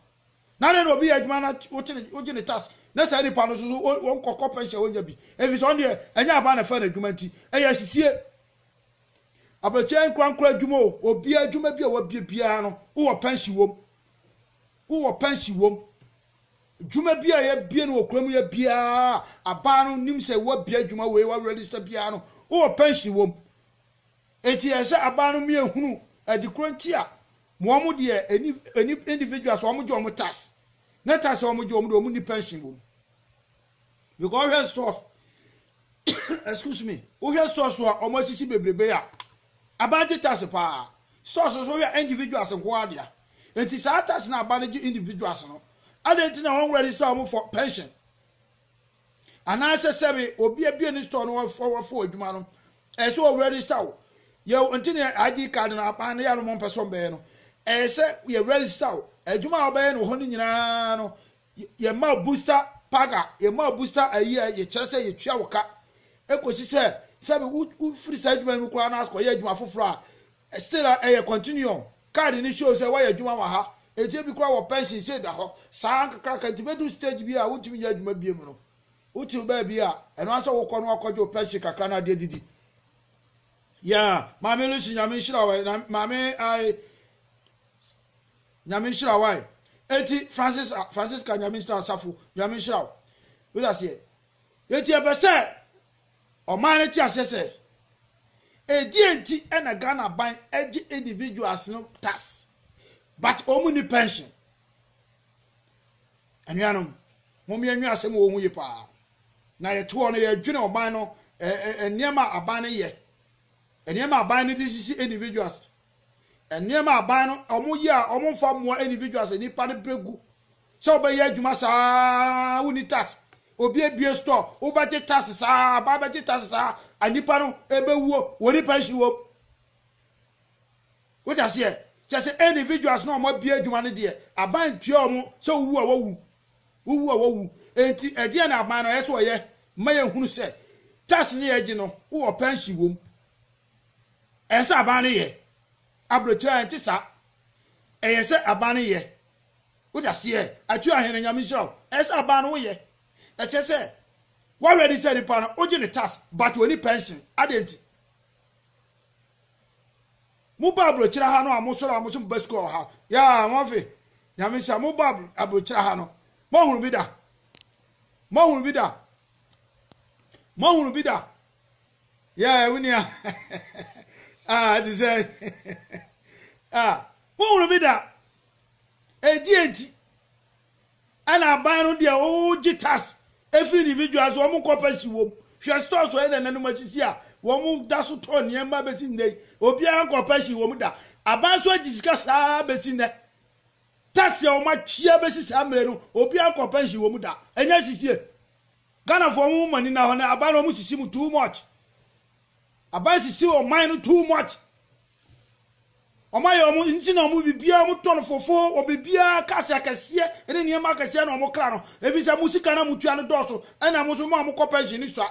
na ne na obi yɛ adwuma na wote ne wogye ne tax na saa nipa no nso wɔn kɔkɔ pension a wɔnya bi efisɛ ɔno deɛ ɛnyɛ aban na fɛ n'adwuma nti ɛyɛ asisie abɛkyɛ nkura nkura adwuma o obi adwuma bi a wabie biara no wowɔ pension wɔm wowɔ pɛnsi wom, dwuma bi a yɛabie no wɔ kura mu yɛ biara, abaa no nim sɛ woabie adwuma wei, woaregister biara no, wowɔ pɛnsi wom. Enti ɛyɛ sɛ abaa no mmea hunu ɛde korɔ nti a wɔn deɛ ɛni ɛni individuals wɔn gye wɔn tax, ne tax wɔn gye wɔn deɛ wɔn nni pɛnsi wom. Because wohwɛ stores excuse me wohwɛ stores a wɔn asisi bebrebe a aban gye tax paa stores nso wohwɛ individuals nko ara dea nti saa tax na aban gye individuals no adan nti na wɔn wura de sa wɔn for pension anaasɛ sɛbi obi abie ne store no wɔfo adwuma no ɛsɛ wɔn wura de sa wo yɛ nti na id card no aban no yɛ no wɔn pɛ so bɛyɛ no ɛsɛ yɛ wura de sa wo adwuma a wɔbɛyɛ no hɔ no nyinaa no Yɛ ma busta paga, yɛ ma busta ayi a yɛ kyerɛ sɛ yɛ tua wo ka, ɛkɔsi sɛ sɛbi wo wo firi saa adwuma yi mu koraa na akɔ yɛ adwuma foforɔ a, still a ɛyɛ continuum, card no show sɛ wayɛ adwuma wɔ ha, nti ebi koraa wɔ pension sei da hɔ, saa nkakraka nti bɛduru stage bi a wo ntumi nyɛ adwuma bio mu no, wo te baabi a ɛno ara sɛ wo kɔ no akɔ gye wo pension kakra na ade adidi. Yeah, maame Lucy nyame nhyira wo, na maame ae Nyame nhyira wo ae. Enti Francis a Francisca Nyame nhyira asafo Nyame nhyira wo wode aseɛ. Enti yɛpɛ sɛ ɔman no te aseɛ sɛ ɛdeɛ nti ɛna Ghana aban ɛgye individuals no tax but ɔmu ni pension. Anuanom mom yɛnwe asɛm wɔ ho yi paa na yɛtoɔ no yɛdwene ɔman no nneɛma aban no yɛ nneɛma aban no de sisi individuals Nneɛma a aban no wɔyɛ a wɔmfa mmoa individuals, nnipa no berɛ gu sɛ wobɛyɛ adwuma saa wonni tax. Obi abue store, wobɛgye tax saa, aban bɛgye tax saa, nnipa no ɛbɛwuo, wɔni pension wɔ mu. Wote aseɛ? Kyɛ sɛ individuals na wɔn abue adwuma no deɛ, aban ntua wɔn sɛ wowu a wɔwu. Wowu a wɔwu. Enti ɛdeɛ na aban no ɛyɛ sɛ wɔyɛ ma yɛhunu sɛ tax ne yɛgye no wowɔ pension wɔ mu. Ɛyɛ sɛ aban no yɛ. Aburokyire a ɛnte saa. Ɛyɛ sɛ aban no yɛ. Wote aseɛ? Atua hene, Nyame nhyira wo. Ɛyɛ sɛ aban no woyɛ. Ɛkyerɛ sɛ wa ready sɛ nipa no wogye ne tax but ɔni pension. Adɛn nti? Mo ba aburokyire ha no a mo sɔre a mo so mo ba sukuu wɔ ha. Yaa, Murphy, Nyame nhyira. Mo ba aburokyire ha no. Mo ahunu bi da? Mo ahunu bi da? Mo ahunu bi da? Yeah, wo nua. Ah, te sɛ. Ah, wohunu bi da. Ɛdi enti. Ɛna aban no deɛ wogye tax ɛfiri individual so wɔn kɔpɛ si wɔm. Hwɛ store so ɛna nanum asisi a wɔn da so tɔ nneɛma bɛsi nnɛ yi. Obiara nkɔpɛ si wɔn da. Aban so agye sika saa bɛsi nnɛ. Tax a wɔn atua bɛsi saa mmerɛ no obiara nkɔpɛ si wɔn da. Ɛnyɛ sisie. Ghana foɔ ɔmo mo ani na hɔ no aban no ɔmo sisi mo too much aban sisi ɔman no too much ɔmo ayɛ ɔmo nti na ɔmo bibia ɔmo tɔ no fofo ɔmo bibia cars akɛseɛ ɛne nneɛma akɛseɛ na ɔmo kra no efi sɛ mo sika na mo tua no dɔɔso ɛna mo so mo a mo kɔ pension ni sua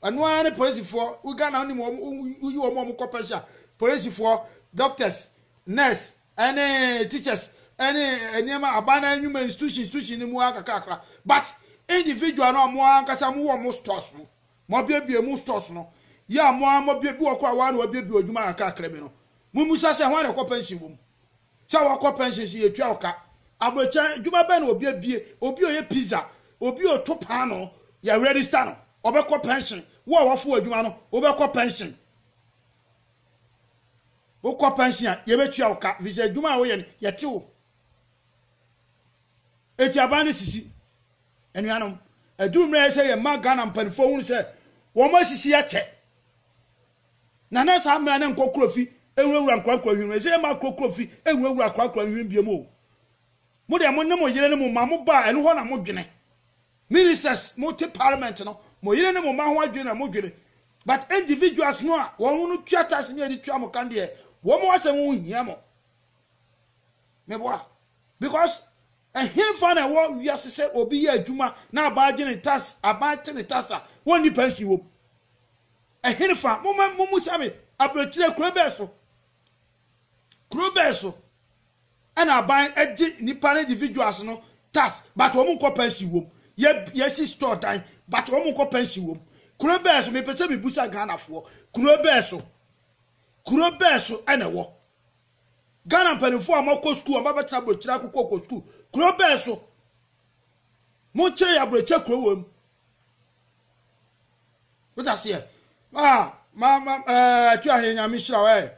ɛno ara ne polisifoɔ wo Ghana ɔmo ɔmo yi ɔmo ɔmo kɔ pension polisifoɔ doctors nurse ɛne teachers ɛne nneɛma aban na nnwuma institution institution no mu ara kakrakra but individual no a mo ankasa mo wɔ mo stores no mo abiebie mo stores no yɛ a mo ara mo abie bi wɔ kora wɔn a na wɔabiebie adwuma kakrakra bi no mo mmusa sɛ ho a na ɛkɔ pension wɔ mu sɛ wɔkɔ pension so yɛtua ɔka aburokyɛn adwuma bɛn na obi abie obi a ɔyɛ pizza obi a ɔto paano yɛ register no ɔbɛkɔ pension wo a wɔfo adwuma no wobɛkɔ pension Wokɔ pɛnsen a, yebetua wo ka, efisɛ adwuma a woyɛ no, yɛte wo. Enti aban no sisi. Anuanom, aduru mmerɛ a ɛsɛ yɛma Ghana mpanimfoɔ hunu sɛ wɔasisi yɛ kyɛ. Na na saa mmerɛ a na nkokuro fi nwurawura nkorankora nhwini, ɛsɛ yɛma akorokoro fi nwurawura akorakora nhwini biom o. Mo deɛ mo ne mo yere ne mo mma mo ba a, ɛno hɔ na modwene. Ministers mo te parliament no mo yere ne mo mma ho adwene na mo dwene but individuals no a wɔn no tua tax ne yɛde tua mo kan deɛ wɔn asɛm ho hia mo meboa because ɛhenfa na ɛwɔ wiase sɛ obi yɛ adwuma na aban gye ne tax aban te ne tax a wɔn ni pension wɔm ɛhenfa mo mo musa me aburokyire kuro bɛɛ so kuro bɛɛ so ɛna aban gye nipa no individuals no tax but wɔn nkɔ pension wɔm yɛ yɛsi store dan but wɔn nkɔ pension wɔm kuro bɛɛ so mepɛ sɛ mebusa Ghana foɔ kuro bɛɛ so kuro bɛɛ so ɛna ɛwɔ Ghana mpanimfoɔ a wɔakɔ sukuu a wɔabɛtena aburokyire akokɔ kɔ sukuu kuro bɛɛ so mo kyerɛ yɛ aburokyire kuro wɔm wọ́n ti aseɛ ah ma ma ɛɛ eh, tu ahenya mi hyira wẹ́ẹ̀.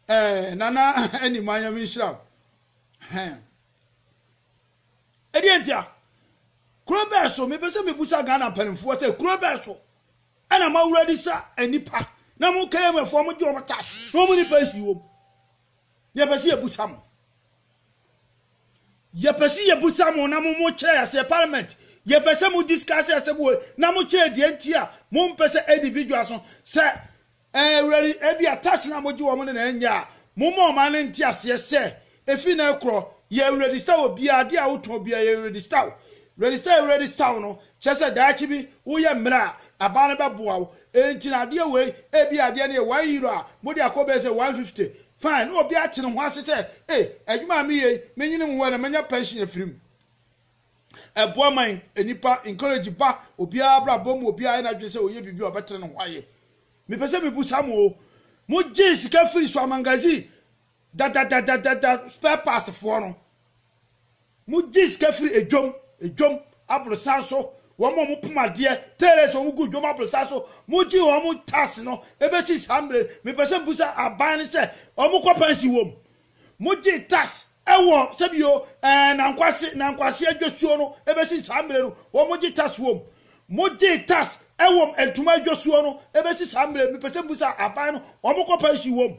Ɛɛ nana ɛni man yɛ mi nhyira o. Hɛn. Ɛdeɛ ntia, kuro bɛɛ so mepɛ sɛ mebusa Ghana mpanimfoɔ sɛ kuro bɛɛ so ɛna ma wura di sa nnipa na mo kɛyɛmɛfoɔ mo gye wɔn tax na wɔn nipa nsi wɔm na yɛpɛ sɛ yɛbusa mo yɛpɛ sɛ yɛbusa mo na mo mo kyerɛ yɛsɛ parliament yɛpɛ sɛ mo discuss yɛsɛ mo na mo kyerɛ deɛ nti a mo mpɛ sɛ individual so sɛ Ɛɛ, Awurade, ebia tase no a mogye wɔn no na ɛnyɛ a, momma ɔman no nte aseɛ sɛ, efi nnɛ rekorɔ, yɛ Awurade Stow obiara, adeɛ a wotɔn biara, yɛ Awurade Stow. Awurade Stow, Awurade Stow no kyerɛ sɛ daakye bi woyɛ mmerɛ a, aban no bɛboa wo. Enti na adeɛ wei, ebia adeɛ no yɛ one euro a, mode akɔ bɛyɛ sɛ one fifty. Fine, na obiara te ne ho ase sɛ, Ei, adwuma a meyɛ yi, menyini me ho ɛna manya pɛnhyen afiri mu. ɛboa ma nnipa encourage ba obiara abrabɔ mu obiara na adwene sɛ ɔyɛ biribi a ɔbɛtene ne ho ayɛ mepɛ sɛ mebu sa mo mo gye sika firi so amangazine dadadadadada spare parts foɔ no mo gye sika firi edwom edwom aborosan so wɔn a wɔn poma adeɛ tailors wɔn gu dwom aborosan so mo gye wɔn tax no ebesi saa mmerɛ mepɛ sɛ mebu sa aban no sɛ wɔn kɔ pɛnsi wɔm Mogye tax wɔ sɛbio ɛɛ nankwase nankwase adwasuo no ɛbɛsi saa mmerɛ no wɔn mogye tax wɔm mogye tax ɛwɔm ntoma adwasuo no ɛbɛsi saa mmerɛ mepɛ sɛ mbusa aban no wɔn kɔ pension wɔm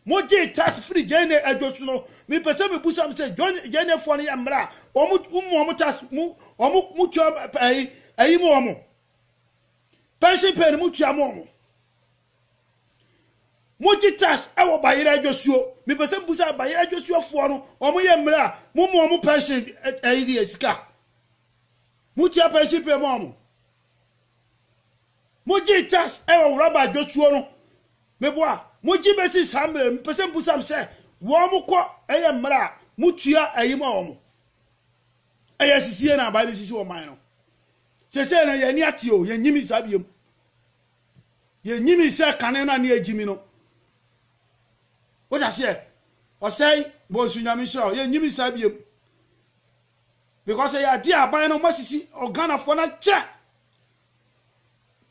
mogye tax firi gyene adwasu no mepɛ sɛ mebusa m sɛ gyenefoɔ no yɛ mmerɛ a wɔn mu wɔn tax mu wɔn mu tua ɛyi ɛyi mu wɔn pension pay no mu tua mu wɔn Mo gye tax wɔ Bayerɛ Adwosuo. Me pɛ sɛ me busa Bayerɛ Adwosuo foɔ no, wɔn yɛ mmerɛ a, mo ma wɔn pension ɛyi deɛ sika? Mo tua pension pay ma wɔn? Mo gye tax wɔ Wuraba Adwosuo no? Me boa, mo gye bɛsi saa mmerɛ no, me pɛ sɛ me busa me sɛ, wɔn kɔ ɛyɛ mmerɛ a, mo tua ɛyi ma wɔn? Ɛyɛ sisie na aban no sisi wɔn man no. Sese no yɛn ani ate o, yɛn nyimi saa biem. Yɛnyinii sɛ kane no a ne agyimi no. Wote aseɛ? Ɔsɛe, Bonsu Nyame nhyira wo. Yɛnyinii saa biom. Because ɛyɛ adeɛ a aban no wɔasisi Ghanafoɔ no akyɛ.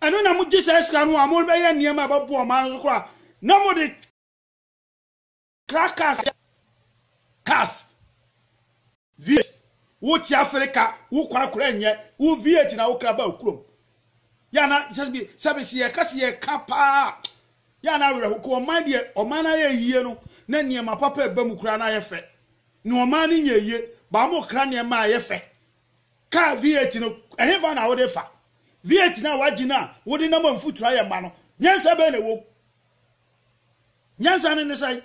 Ɛno na mogye saa sika no a mobɛyɛ nneɛma a ɛbɛboa ɔman no so koraa na mode Kra cars yɛ cars vih wo te afirika wo kwan kora nyɛ wo vih na wo kra ba okurom yɛ na sɛbi sɛbi si yɛ kasi yɛ ka paa yɛ na awerɛ hokɔ ɔman deɛ ɔman na yɛ yie no na nneɛma papa ɛba mu kora na yɛ fɛ na ɔman ne nyɛ yie ba mo kra nneɛma a yɛ fɛ kaa vih no ɛhefa na wode fa vih na wagye no a wode nam mfutura yɛ ma no nyɛnsa bɛn na ɛwom Nyansa no ne sɛn?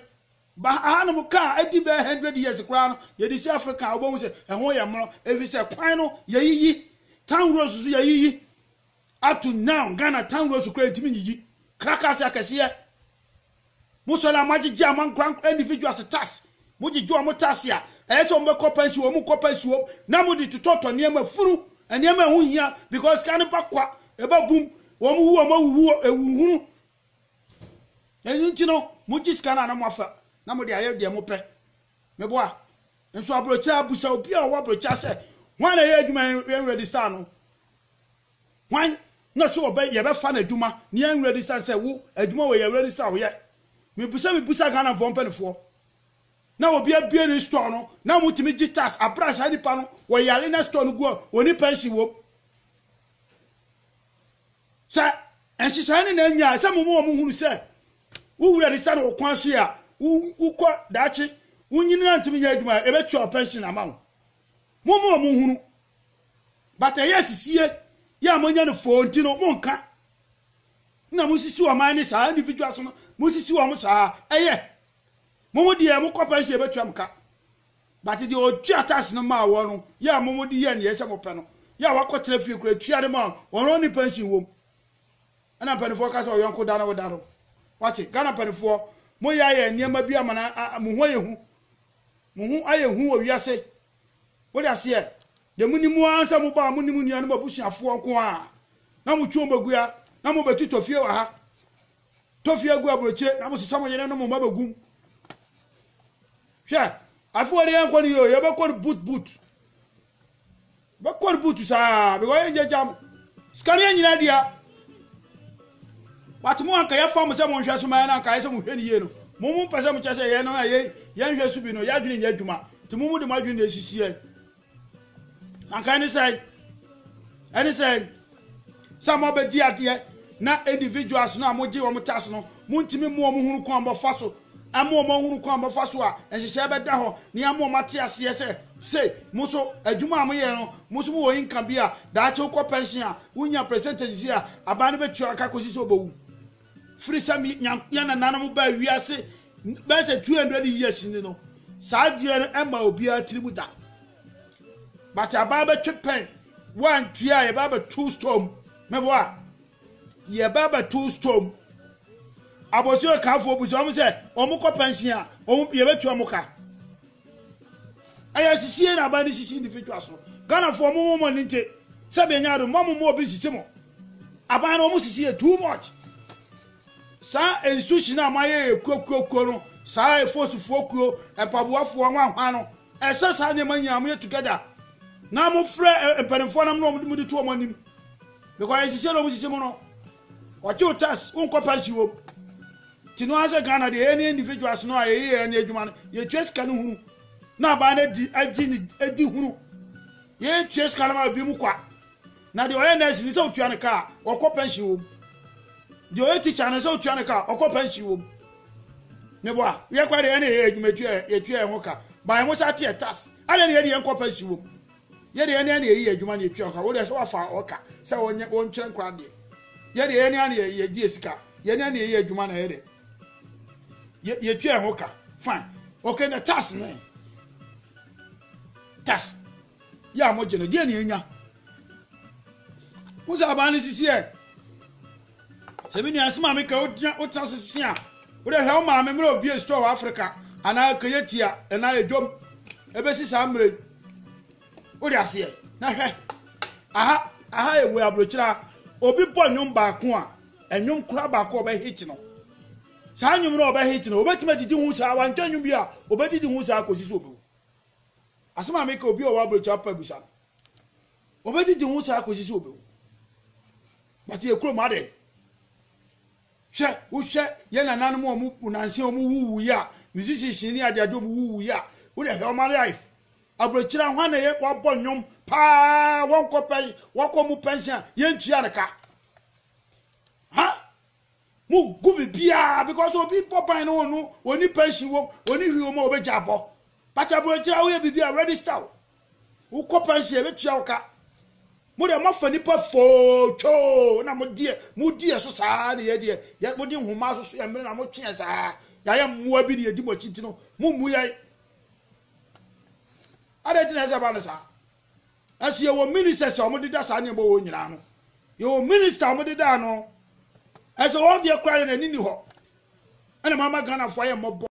Ba ahanom ka a adi bɛyɛ hundred years koraa no, yɛde si Africa a, wobɛhu sɛ ɛho yɛ mono, efisɛ kwan no yɛayiyi, town roads nso yɛayiyi. Up to now, Ghana town roads koraa yɛntumi nyiyi. Krakas akɛseɛ, mosɔre a moagyegye a moankorankora individuals tax, mogyegye wɔn tax a ɛyɛ sɛ wɔbɛkɔ pension, wɔn nkɔ pension, na mode totɔtɔ nneɛma, funu, nneɛma a ɛho hia, because sika no ba kwa, ɛba bum, wɔn wu wɔn awuwu, ɛwuhunu, Ɛno nti no, mogye sika no a na moafa na mode ayɛ deɛ mopɛ. Meboa. Nso aburokyire a, busa obi a ɔwɔ aburokyire sɛ, hwan na ɛyɛ adwuma yi yɛn register no? Hwan na so ɔbɛ yɛbɛfa no adwuma ne yɛn register sɛ wo adwuma wɔ yɛ register woyɛ? Mebusa mebusa Ghanafoɔ mpanimfoɔ. Na obi abie ne store no na wɔtumi gye tax abere a saa nipa no wɔyare na store no gu a wɔni pension wom. Sɛ nhyehyɛe no na anya sɛ moma wɔn hunu sɛ wo wura de sa no wo kwan so a wokɔ daakye wonyin na ntumi nyɛ adwuma a, ebetua wo pɛnhyen ama wo. Moma wɔn nhunu. But ɛyɛ asisie yɛ a moanya no foo nti no, monka na mosisi ɔman ne saa individuals no, mosisi wɔn saa. Ɛyɛ. Mo mo deɛ mokɔ pɛnhyen ebetua mo ka. But deɛ ɔtua tax no maa wɔn no yɛ a momo de yɛ neɛ sɛ mopɛ no yɛ a wakɔ tena fie koraa tua de maa wɔn wɔn ne pension wom ɛna mpanifoɔ ka sɛ ɔyɔnko da no wo da no wate Ghana mpanifoɔ mo yɛ ayɛ nneɛma bi ama na mo ho ayɛ hu mo ho ayɛ hu wɔ wiase wo de aseɛ de mo ni mo ara sɛ mo baa mo ni mo nua no mo abusuafoɔ nko a na mo twi wɔn bɛgua na mo bɛtotɔ fie wɔ ha tɔ fie gu aburokyire na mosesa mo yere no mo mma bɛgu mu hwɛ afe wɔde yɛnkɔ no yio yɛbɛkɔ no boot boot bɛkɔ no boot saa because yɛngyagya mo sika no yɛnyina dua wate mo anka yɛfa mo sɛ monhwɛ so ma yɛ no anka yɛ sɛ mohwɛ no yie no mo mo mpɛ sɛ mokyɛ sɛ yɛn no a yɛnhwɛ so bi no yɛadwene nyɛ adwuma nti mo mo de mo adwene na ɛsisi yɛn Anka ɛne sɛn? Ɛne sɛn? Sɛ mobɛdi adeɛ na individuals no a mogye wɔn tax no montumi mmoa wɔn hunu kwan bɔfa so ama wɔn ahunu kwan bɔfa so a nhyehyɛe bɛda hɔ ne ama wɔn ate aseɛ sɛ se mo so adwuma a moyɛ no mo so mowɔ income bi a daakye wokɔ pension a wonya percentages a aban no bɛtua aka kɔsi sɛ wobɛwu. firi sɛ me Nyankopɔn yɛn nananom baa wiase bɛyɛ sɛ 200 years ni no saa adeɛ no ɛma obiara tirim da but abaa bɛtwe pɛn woantie a yɛbaa bɛto store mu mɛbɔ a yɛbaa bɛto store mu abɔsi ɔkaafoɔ bu sɛ wɔn sɛ wɔn kɔ pɛnsin a wɔn yɛbɛtua wɔn ka ɛyɛ asisie na aban de sisi individual so ghanafoɔ mo mo mo ne nte sɛ bɛnya ado mo mo mo obi sisi mo aban no wɔn sisi yɛ too much saa institution a moayɛ yɛ kuokuokuo no saa efosufoɔ kuo mpaboafoɔ nwanwa no ɛsɛ saa nneɛma nyinaa moyɛ together na mofrɛ mpanimfoɔ nam na wɔn de to wɔn anim because ɛsisi na wɔn sisi mo no. Ɔte wo tax wonkɔ pasi wom. Ti no asɛ Ghana deɛ ɛne individuals no a yɛyɛ ɛne adwuma no yɛtua sika no hunu na abaa no adi agyi ne adi hunu yɛtua sika no ma ebi mu kwa na deɛ ɔyɛ nurse no sɛ wotua no kaa ɔkɔ pension wom deɛ ɔyɛ teacher no sɛ wotua no kaa ɔkɔ pension wom ne boa yɛkora deɛ ɛne yɛyɛ adwuma tua yɛtua yɛn ho ka baeɛ mo sa teɛ tas adɛ ne yɛde yɛn kɔ pension wom Yɛ deɛ yɛne yɛne yɛyi adwuma ne yɛtua nka. Wo deɛ sɛ wafa ɔka sɛ wɔnyɛ wɔnkyerɛ nkora adeɛ. Yɛ deɛ yɛne yɛne yɛgye yɛ sika. Yɛne yɛne yɛyi adwuma na yɛ dɛ. Yɛ yɛtua ɛho ka. Fine. Okay na tax ne. Tax. Yɛ a mogye no deɛ ne yɛnya. Wo sɛ aban ne sisi ɛ. Sɛ me nua, so maame ka wo gyina wo tena ase se a, wo dɛ hwɛ wo maame mmerɛ obue store wɔ Africa anaa kɛyɛ tia anaa edwom ɛbɛsi saa mmerɛ yi. Wo de aseɛ na hwɛ aha aha yɛ wɔ abrokyira obi bɔ nnwom baako a ɛnwom kora baako a ɔbɛ hit no saa nnwom no ɔbɛ hit no obɛtumi adidi ho saa wantwa nnwom bi a obɛdidi ho saa kɔsi so obɛwu asɛm a meka obi ɔwɔ abrɛkyia pa abusa no wɔbɛgyegye ho saa kɔsi sɛ wɔbɛwu but yɛ kurom adɛ hwɛ wohwɛ yɛ nananom a wɔn nanse wɔn wuwu yi a musicians ne adeade wɔn wuwu yi a wode hwɛ wɔn life aburokyira hwan na yɛ wɔabɔ nnwom paa wɔnkɔ pɛn wɔkɔ mu pɛnhyɛn a yɛntua no ka ha Mo gu bibiaa because obi bɔ ban no ɔno ɔni pension wom ɔni hwi wom a ɔbɛgya abɔ but abrɔkyerɛ woyɛ bibi a register wo wokɔ pension ɛbɛtua wo ka mo deɛ moafa nipa foo twoo na mo deɛ mo deɛ so saa na yɛ deɛ mo de nhoma so so yɛ mmere na mo tweɛ saa yɛayɛ mmoa bi na yɛdi mo akyi nti no mo mmu yɛn adɛn ti na ɛsɛ ba no saa Nso yɛwɔ ministers a wɔdeda saa nneɛma wɔ hɔ nyinaa no. Yɛwɔ minister a wɔdeda ano. Nso wɔn deɛ koraa deɛ n'ani ni hɔ. Ɛna mama Ghanafoɔ ayɛ mmɔbɔ.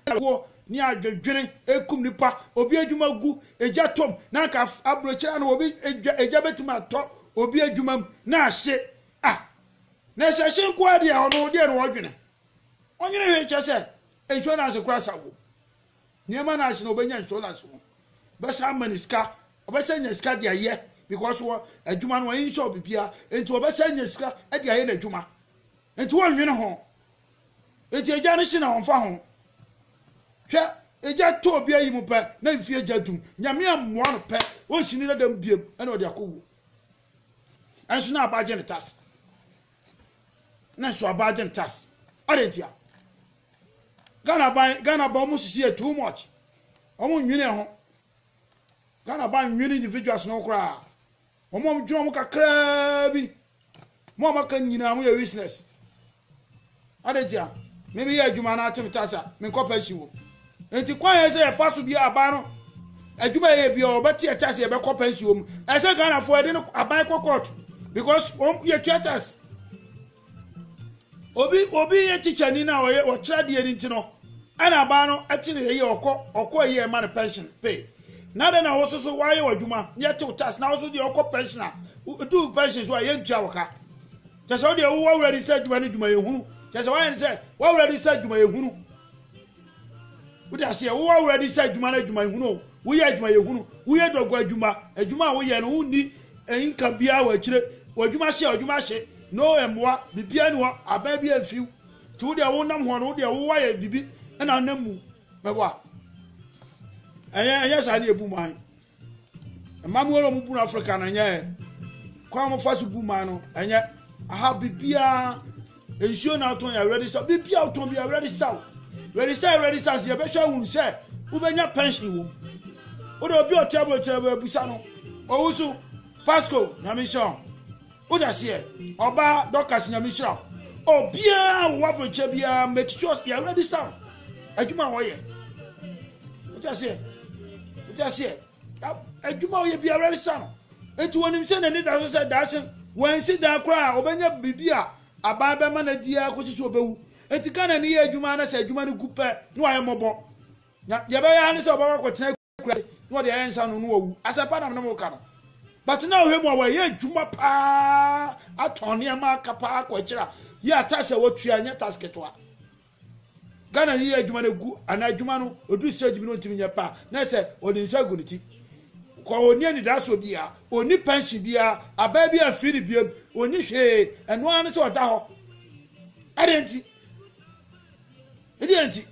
Ɛwoɔ ne adwedwene ɛkum nipa. Obi adwuma gu, egya tɔm. Na anka aburokyerɛ ano obi egya egya bɛtumi atɔ obi adwuma mu na ahye. Ah! Na ɛsɛ ɛhye nko ara deɛ ɔno deɛ na ɔdwene. Ɔnwene hwee kyɛ sɛ insurance koraa sa wɔ mu. Nneɛma na ase na ɔbɛnya insurance no bɛsan ama ne sika ɔbɛsan nya sika de ayɛ because wɔ adwuma no wɔn insure bibia nti ɔbɛsan nya sika de ayɛ n'adwuma nti wɔn nwene ho nti agya no si na wɔn fa ho hwɛ agya tɔ obi ayi mu pɛ na mfie agya dum nyame amoa no pɛ wɔn si ne dada mu biem ɛna ɔde akɔ wuo ɛnso na aba agye ne tas na nso aba agye ne tas ɔde ntia. Ghana ban Ghana ban ɔmo sisi yɛ too much ɔmo nwene ɛho Ghana ban nwene individuals no koraa ɔmo ɔmo dwene ɔmo kakraa bi mo ɔmo aka nyinaa mo yɛ useless adetia me me yɛ adwuma na atem tasa me nkɔ pension wom nti kwan yɛ sɛ yɛfa so bi aban no adwuma yɛ bi ɔbɛte ɛtase yɛbɛkɔ pension wom ɛsɛ Ghana fo ɛde no aban kɔ court because wɔn yɛ tua tase obi obi yɛ teacher ni na ɔyɛ ɔkyerɛ deɛ ni ti no ɛna abaa no ɛte ne yɛ ɔkɔ ɔkɔ yi ɛma no pension pay na dɛ na wɔso so wɔayɛ w'adwuma yɛ tew tax na wɔso deɛ ɔkɔ pension a do pension so a yɛ ntua wɔ ka kyɛ sɛ wɔdeɛ wɔwɔ register adwuma no adwuma yɛ hunu kyɛ sɛ wɔayɛ ne sɛ wɔwɔ register adwuma yɛ hunu wode aseɛ wo awura di sɛ adwuma no adwuma ehunu o woyɛ adwuma yɛ hunu woyɛ dɔgɔ adwuma adwuma a woyɛ no wonni nka biara wɔ akyire w'adwuma hye a adwuma hye no mmoa biribiara ni hɔ aban bi amfiw nti wodeɛ wonam hɔ no wodeɛ wowa yɛ biribi ɛna nam mu mɛboa ɛyɛ ɛyɛ saa ne ebu man Mmabua na wɔn bu no Africa no ɛnyɛ yɛ. Kwan a wɔfa so bu man no ɛnyɛ. Aha biribiara nsuo na atɔn yɛ ready sell. Biribiara wotɔn bi yɛ ready sell. Ready sell ready sell nso yɛbɛhwɛ ahunu sɛ wobɛnya pension wom. Wode obi ɔte aburokyerɛ bɛbusa no. Owusu, Pasco, Nyame nhyira wo. Wode aseɛ ɔba Dorcas nyame nhyira wo. Obiara wɔ w'abrɛkyɛ biara make sure yɛ register wo adwuma a wɔyɛ. Wode aseɛ wode aseɛ adwuma a wɔyɛ biara register no. Eti wɔnim sɛ n'ani da so sɛ daakye wɔansi dan koraa a ɔbɛnya biribi a abaa bɛma no adi ara kɔsi so ɔbɛwu. Eti Ghana ni yɛ adwuma na sɛ adwuma no gu pɛ na wɔayɛ mmɔbɔ. Na deɛ ɛbɛyɛ ara ne sɛ ɔbɛkɔ akɔtena kura se na ɔde ayɛ nsa no no wawu asɛm pa na mene mo ka no but na ɔhwɛ mu a wɔyɛ adwuma paa atɔn nneɛma aka paa kɔ akyiri a yɛ atas a wɔtua nyɛ tas ketewa ghana yi yɛ adwuma no gu ana adwuma no ɔduru stage bi no ɔntumi nyɛ paa na sɛ ɔde nsa gu ne ti kɔ ɔni anidaa so biara ɔni pension biara abaa bi amfii ne biam ɔni hwee ɛno ara ne sɛ ɔda hɔ ɛdeɛ nti Ne deɛ nti?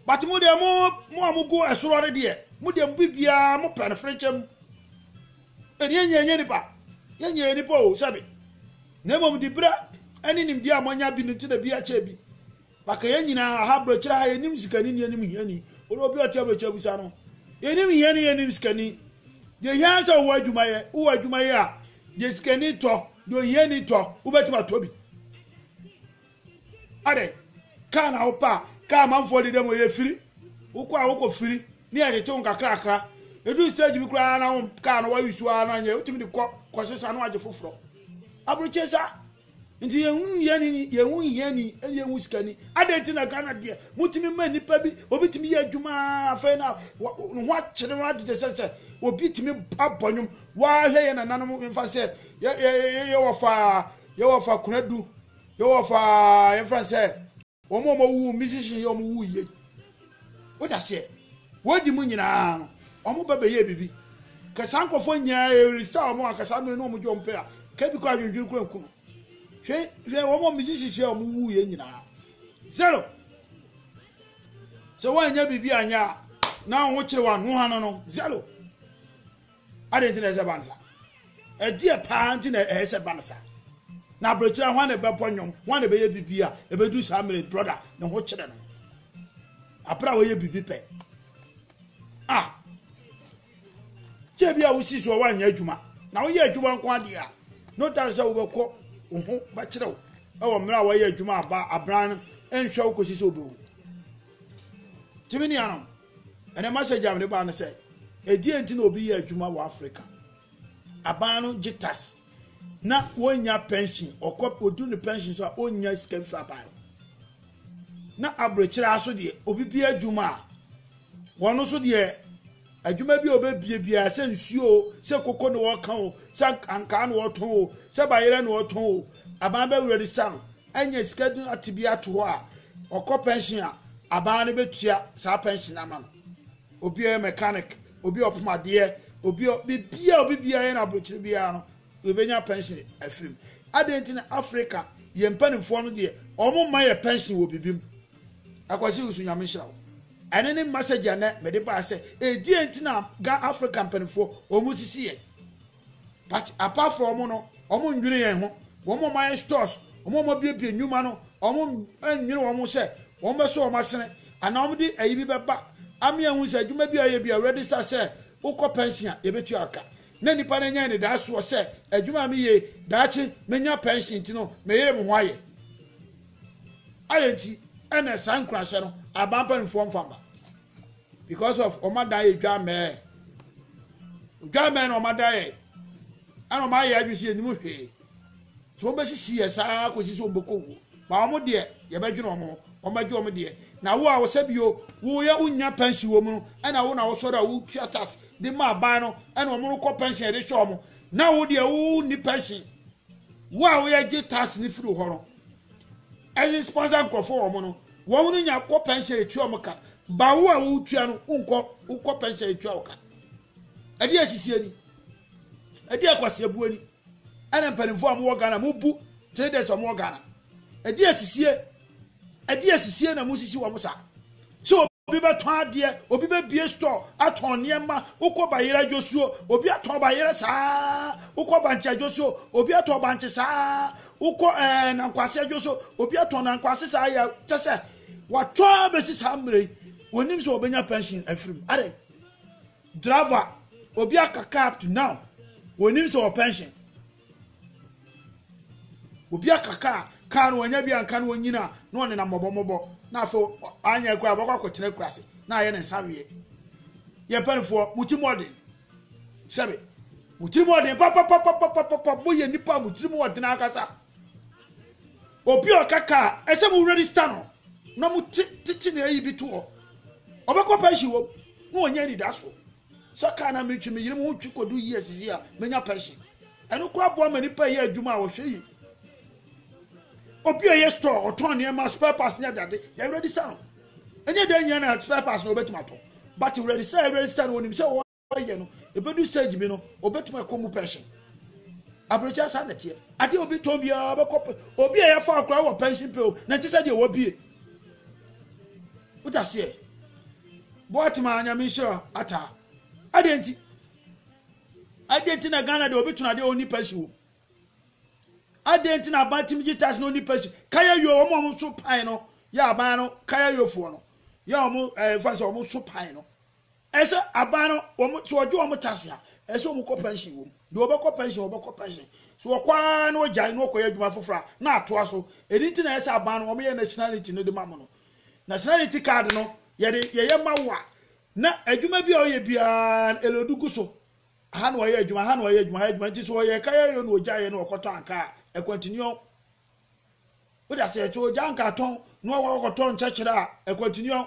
But mo deɛ, mo mo a mo go ɛsoro no deɛ, mo deɛ mo bibiara mo pɛ no frenkyɛ mu. Ɛni ɛnyɛ ɛnyɛ nipa, yɛ nyɛ nipa o sɛbi. Na emom di berɛ ɛne nimdeɛ a mo anya bi no nti na bi akyɛ bi. Baka yɛ nyinaa aha brɛkyerɛ ha yɛ nim sikani ne yɛ nim hiani. Ɔde obi ɔte abrɛkyerɛ busa no. Yɛ nim hiani yɛ nim sikani. Deɛ hia sɛ wowɔ adwuma yɛ, wowɔ adwuma yɛ a, deɛ sikani tɔ, deɛ ohiani tɔ, wobɛtumi atɔ bi. Adɛ, kaa na wopɛ a, kaa amanfoɔ de dɛm ɔyɛ firi, wokɔ a wokɔ firi, ne yɛgyete wo nkakrakra. Ɛduru stage bi koraa na wo kaa no wa use a na nyɛ, wotumi de kɔ kɔsesa na wagye foforɔ. Aburokyire sa nti yɛnhu hiani yɛnhu hiani ɛne yɛnhu sikani. Adɛn nti na Ghana deɛ motumi ma nipa bi obi tumi yɛ adwuma afei na ne ho akyere no adede sɛ sɛ obi tumi abɔ nwom wahwɛ yɛ nananom mfa sɛ yɛwɔ fa yɛwɔ fa kunadu Yɛwɔ fa yɛn fɛn sɛ wɔn a wɔwu musician yi wɔn wu yie wode aseɛ wɔdi mu nyinaa no wɔn ba bɛyɛ bibi kɛsaa nkɔfoɔ nyinaa ɛresa wɔn a kɛsaa mmiri no wɔn gye wɔn pɛ a kɛbi kɔ adwendwene kura nku no hwɛ hwɛ wɔn a musician yi wɔn wu yie nyinaa zero sɛ wɔanyɛ bibi anyɛ a na wɔn ho kyerɛ wɔn ano ano no zero. Adɛn nti na ɛsɛ sɛ ɛba no saa? Ɛdeɛ paa nti na ɛyɛ sɛ ɛba no saa? Na aberɛkyerɛ hwan na ɛbɛbɔ nnwom, hwan na ɛbɛyɛ biribi a ɛbɛduru saa mmerɛ brɔda ne ho kyerɛ no aberɛ a wɔyɛ biribi pɛ a kyɛ bi a wosi so a woanyɛ adwuma na woyɛ adwuma nko adeɛ a no doubt sɛ wobɛkɔ wo ho bɛkyerɛ wo ɛwɔ mmerɛ a wɔyɛ adwuma aba abran no nhwɛ wo kɔsi sɛ wobɛwu tumi nuanom Ɛnɛ message a mede baa no sɛ, ɛdeɛ nti na obi yɛ adwuma wɔ Africa? Aban no gye tax na wɔnnya pension, ɔkɔ ɔduru ne pension so a ɔnnya sika mfiri aban no. Na aburokyerɛ aso deɛ obi bi adwuma a, wɔn nso deɛ adwuma bi a ɔbɛbie biara sɛ nsuo o, sɛ koko na ɔka o, sɛ ankaa na ɔtɔn o, sɛ bayerɛ na ɔtɔn o, aban bɛwerɛ de sa no, anya sika duru ate bi ato hɔ a, ɔkɔ pɛnhyen a, aban no bɛtua saa pɛnhyen no ama no. Obi a ɔyɛ mɛkanik, obi a ɔpoma adeɛ, obi a biribiara obi biara yɛ no aburokyire biara no, yɛbɛnya pɛnhyen afiri mu. Adɛn nti na Afrika, yɛn mpanimfoɔ no deɛ, wɔmma yɛn pɛnhyen wɔ biribi mu? Akwasi Wusu, Nyame nhyira wo. Ɛno ne message a nnɛ mede baeɛ sɛ, ɛdeɛn nti na Afrika mpanimfoɔ wɔsisi yɛn? But apart from wɔn no, wɔn nnwene yɛn ho. Wɔn a wɔayɛ stores, wɔn a wɔabuebue nnwuma no, wɔn nnwene wɔn ho sɛ wɔn bɛso wɔn asene anaa wɔn de ayi bi bɛba ama yɛahu sɛ adwuma bi a yɛyɛ bi a register sɛ wokɔ pension a yɛbɛtua aka. Na nipa no anya anidasoɔ sɛ adwuma a meyɛ daakye menya pension nti no meyere me ho ayɛ. Adɛn nti ɛna saa nkurahyɛ no aban mpanimfoɔ mfa mma? because of wɔn adan yɛ dwamɛɛ dwamɛɛ na wɔn adan yɛ ɛna wɔn ayɛ adwi si yɛ nimu hwee so wɔn bɛsisi yɛ saa kɔsi so wɔn bɛkɔ wuo ba wɔn deɛ yɛbɛdwene wɔn ho wɔn bɛgye wɔn deɛ na wo a wɔsɛ bio woyɛ wonya pɛnsi wɔn mu no ɛna wo na wɔsɔre a wotua tas de ma aban no ɛna wɔn no kɔ pɛnsi yɛde hyɛ wɔn na wo deɛ wo ni pɛnsi wo a woyɛ gye tas ne firi hɔ no ɛyɛ sponsor nkurɔfoɔ wɔn no. Wɔn no nya kɔ pɛnhyɛn etua wɔn ka. Ba wo a wotua no wonkɔ wokɔ pɛnhyɛn etua wo ka. Ɛde asisi ani. Ɛde akwasiabu ani. Ɛna mpanimfoɔ a wɔwɔ Ghana mobu traders a wɔwɔ Ghana. Ɛde asisie. Ɛde asisie na mosisi wɔn saa. So obi bɛtɔn adeɛ, obi bɛbie store atɔn nneɛma, wokɔ bayerɛ dwosuo, obi atɔn bayerɛ saa, wokɔ bankye dwosuo, obi atɔn bankye saa, Wokɔ ɛɛ eh, nankwase adwo so obi atɔn nankwase saa yɛ kyɛ sɛ watɔ abɛsi saa mmerɛ yi wɔnim sɛ wɔbɛnya pension afiri mu adɛ driver obi aka car to now wɔnim sɛ wɔ pension obi aka car car no wɔanya bi anka no wɔnyina na ɔnena mmɔbɔmmɔbɔ na afei anyɛ kura bɛkɔ akɔtena kura ase na ayɛ ne nsa weɛ yɛ mpanifoɔ mo ti mɔden sɛbe mo tirim ɔden papapapapapa moyɛ nipa mo tirim ɔden ankasa obi ɔkaka ɛsɛ mo register no na mo te tete na ayi bi to hɔ ɔbɛkɔ pension wɔ na ɔnyɛ anidaso sɛ kaa na metwi meyere mo ho twi kɔdu yi asisi a menya pension ɛno kora boa ma nipa yɛ adwuma a wɔhwɛ yi obi a yɛ store ɔtɔn nneɛma spare parts ne adade yɛ register no Ɛnyɛ dɛn nyina na spare parts no obetumi atɔ but wredi sɛ ɛwredi sɛ no onim sɛ ɔyɛ no ebedu stage bi no obetumi akɔ mu pension. Aburokyɛ saa na ɛteɛ. Adeɛ obi tɔn biara bɛkɔ pe obi a yɛfa akora wɔ pension pe o na ɛnte sɛ deɛ wɔbie. Wodaseɛ. Boatema nyame nhyira ataa. Adeɛ nti. Adeɛ nti na Ghana deɛ obi tɔn adeɛ ɔnni pension wɔ mu. Adɛn nti na aban tumi gye tax na ɔnni pɛsi? Kaya yo, wɔn a wɔso pan no yɛ aban no kaya yofoɔ no yɛ wɔn ɛɛ nfa sɛ wɔn so pan no. Ɛsɛ aban no wɔn sɛ wɔgye wɔn tax a ɛsɛ wɔn kɔ pension wɔm. Deɛ wɔbɛkɔ pension wɔbɛkɔ pension. So wɔkɔ ara na wɔgyae na wɔkɔyɛ adwuma foforɔ a na atoa so. Ɛno nti na ɛsɛ aban no wɔn yɛ nationality no de ma mo no. Nationality card no yɛde yɛyɛ ma wo a na adwuma bi a ɔyɛ biara ɛlɛ ɔde gu so. Aha na ɔyɛ adwuma, aha na ɔyɛ adwuma, aha adwuma. Nti so ɔyɛ ɛka yɛ yɛ na ɔgya yɛ na ɔkɔtɔ ankaa a, continue. Wode aseɛ, so ɔgya ankaa tɔn na ɔwɔ ɔkɔtɔ nkyɛkyerɛ a, continue.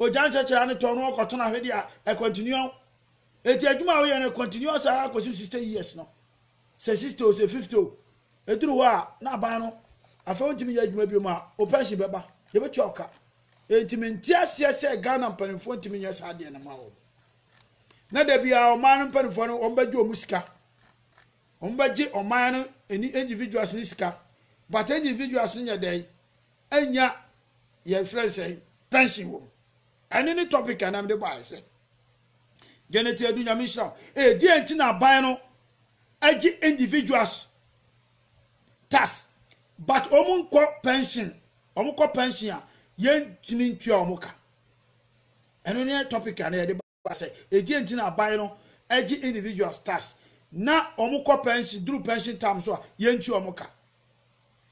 Ɔgya nkyɛkyerɛ ne tɔn na ɔkɔtɔn ahwede a, continue. Eti adwuma a ɔyɛ no continue saa kɔsi 60 years no. Sɛ 60 o, sɛ 50 o. Ɛduru hɔ a, na aban no, afei wontumi yɛ adwuma biom a, wo pension bɛba. Yɛbɛtua wo ka. Enti mente aseɛ sɛ Ghana mpanimfoɔ ntumi nyɛ saa deɛ no ma wɔn. na da biara ɔman no mpanimfoɔ no wɔbɛgye wɔn sika wɔbɛgye ɔman no ɛni individuals ne sika but individuals no nyɛ dɛn ɛnya yɛfrɛ nsɛn pension wɔm ɛne ne topic anam de baeɛ sɛ Janet Adu Nyame nhyira wo ɛdeɛ nti na aban no agye individuals tax but wɔn nkɔ pension wɔn kɔ pension a yɛntumi ntua wɔn ka Ɛno ne topic a na yɛde ba sɛ ɛdeɛn nti na aban no gye individuals tax na wɔn kɔ pension duru pension time so a yɛnti wɔn ka.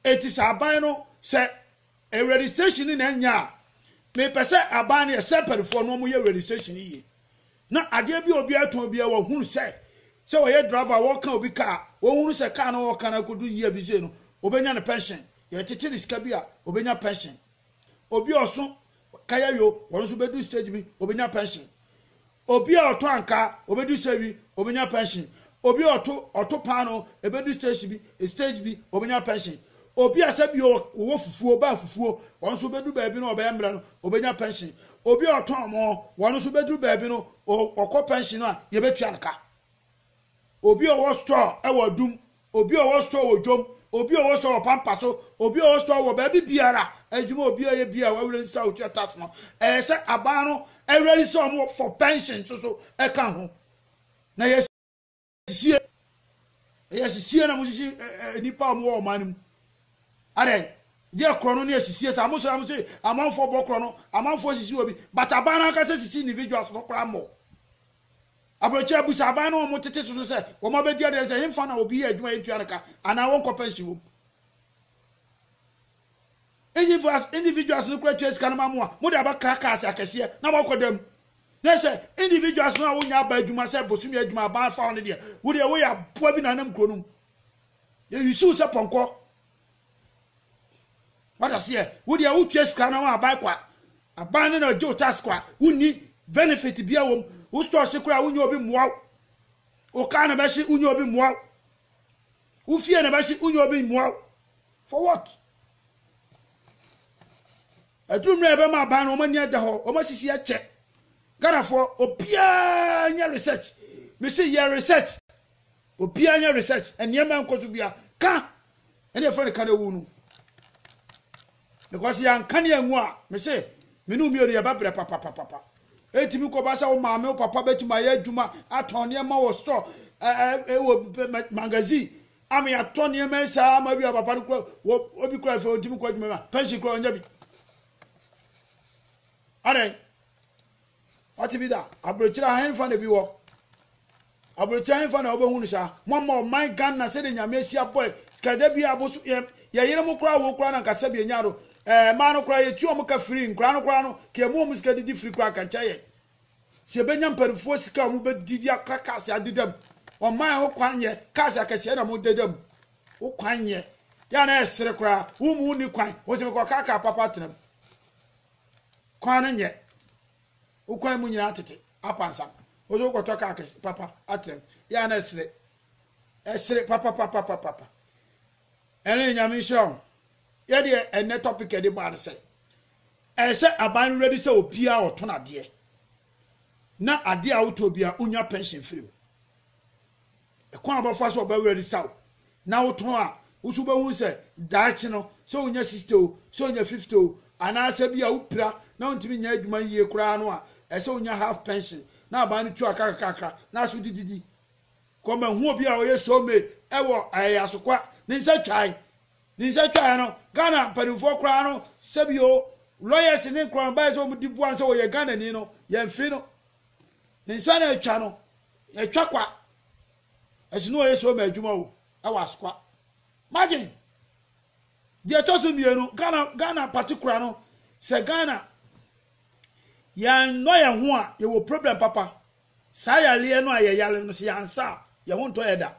Eti sɛ aban no sɛ e registration ne na nya a mepɛ sɛ aban no yɛ sɛ mpanifoɔ no wɔn yɛ registration yie na adeɛ bi a obi atɔn bi a wɔhunu sɛ sɛ wɔyɛ driver wɔka obi kaa wɔhunu sɛ kaa no wɔka no akodu yie bi sei no wɔbɛnya ne pension yɛtete ne sika bi a wɔbɛnya pension Obi a ɔso kaya awie o, ɔno nso bɛduru stage bi, ɔbɛnya pension. Obi a ɔtɔ ankaa, ɔbɛduru stage bi, ɔbɛnya pension. Obi a ɔto ɔto paanoo, ɛbɛduru stage bi, stage bi, ɔbɛnya pension. Obi a sɛbi o, ɔwɔ fufuo, ɔbaa fufuo, ɔno nso bɛduru baabi no ɔbɛyɛ mmerɛ no, ɔbɛnya pension. Obi a ɔtɔn moo, ɔno nso bɛduru baabi no, ɔkɔ pension no a, yɛbɛtua no ka. Obi a ɔwɔ store wɔ adum, obi a ɔwɔ store wɔ dwom, obi a ɔwɔ store wɔ pampa so, obi a ɔwɔ store wɔ baabi biara, adwuma a obiara yɛ biara a w'awura nsi a otua tax no, ɛyɛ sɛ aban no awura yi sɛ wɔn for pension nso so ka ho. Na yɛ sisie, yɛ sisie na mo sisi nnipa a wɔn wɔ ɔman no mu. Adɛ, deɛ korɔ no ne asisie saa, mo sɛ na mo sɛ amanfoɔ bɔ korɔ no, amanfoɔ sisi obi, but aban no ankasa sisi individuals no koraa mmɔ. Aburokyire bisa aban no a wɔtete so no sɛ wɔabɛdi adanse sɛ hefa na obi yɛ adwuma a yɛntua no ka anaa wɔnkɔ pɛnsen wom. Individuals, individuals no kura tua sika no ma mo a mode abɛkra cars akɛseɛ na moakɔda mu. Na sɛ individuals no a wonya aba adwuma sɛ bosomi adwuma aban fa hɔ no deɛ, wo deɛ woyɛ aboa bi na nam kuro no mu. Yɛwisi wo sɛ pɔnkɔ. wata seɛ wo deɛ wotua sika na wɔaban kwa aban no na gye wo tax kwa wonni benefit bia wom wo store hye koraa wonyɛ obi mmoa wo wo car na bɛhye wonyɛ obi mmoa wo wo fie na bɛhye wonyɛ obi mmoa wo for what aduru mmerɛ ɛbɛma aban no wɔn ani ada hɔ wɔn asisi akyɛ ghanafoɔ obiara nyɛ research mesi yɛ research Obia nyɛ research nneɛma nkɔ so bia ka ɛne ɛfrɛ no ka no awu no because yɛanka ne angu a me se me ne mmienu yɛba brɛ papapapapa ɛtumi kɔba sɛ wo maame wo papa bɛtumi ayɛ adwuma atɔn nneɛma wɔ store wɔ magazine ama yɛatɔ nneɛma saa ama bi a papa no kura obi kura fɛ ɔntumi kɔ adwuma ma pension kura ɔnyɛ bi adɛn Ɔte bi da aburokyire ha henfa na bi wɔ aburokyire henfa na ɔbɛhu no saa mo ama ɔman Ghana sɛde nyame asi abɔ sikada bi aboso yɛyere mo koraa wo koraa na nkasa bi enya do ɛɛ maa no koraa yɛtua ɔmo ka firi nkora no koraa no ka emu ɔmo sika didi firi koraa kankyɛ yɛ sɛ yɛbɛnya mpanimfoɔ sika ɔmo bɛdidi akora kaase adeda mu ɔman ho kwan yɛ kaase akɛseɛ na mo deda mu wo kwan yɛ yɛ na ɛsere koraa wo mu ni kwan wɔsɛ mekɔ kaka papa tena mu Kwan no nyɛ wo kwan mu nyinaa tete apansam. Wo nso wokɔtɔ kaa kɛse papa atra mu. Yɛ a na ɛsere. Ɛsere papapapapapa. Ɛne Nyame nhyira wo. Yɛ deɛ ɛnɛ topic ɛde baa no sɛ ɛyɛ sɛ aban no ready sɛ obiara a ɔtɔn adeɛ na adeɛ a wotɔ biara wonya pension firi mu. Kwan a ɔbɛfa so a ɔbɛwe aresaa wo na wotɔn a, wo nso wobɛhu sɛ daakye no, sɛ wonya sixty o, sɛ wonya fifty o, anaasɛ bi a wopira na wontumi nyɛ adwuma yie koraa no a, ɛsɛ sɛ wonya half pension na aban no tua ka kakrakakra na aso de didi. Kɔmahu obi a ɔyɛ so me wɔ ɛɛ Asokwa, ne nsa twae. Ne nsa twaeɛ no, Ghana mpanimfoɔ koraa no, sɛbi o, lawyers ne nkorɔ no baeɛ sɛ wɔn de boa no sɛ ɔyɛ Ghanani no, yɛmfee no. Ne nsa na atwa no. Yɛtwa kwa. Ɛso ne wɔyɛ Soma adwuma o, ɛwɔ Asokwa. Margin. Deɛ ɛtɔ so mmienu, Ghana, Ghana particular no, sɛ Ghana yɛannɔ yɛn ho a, yɛwɔ problem papa. Saa yareɛ no a yɛyare no, sɛ yɛansa a, yɛn ho ntɔ yɛ da.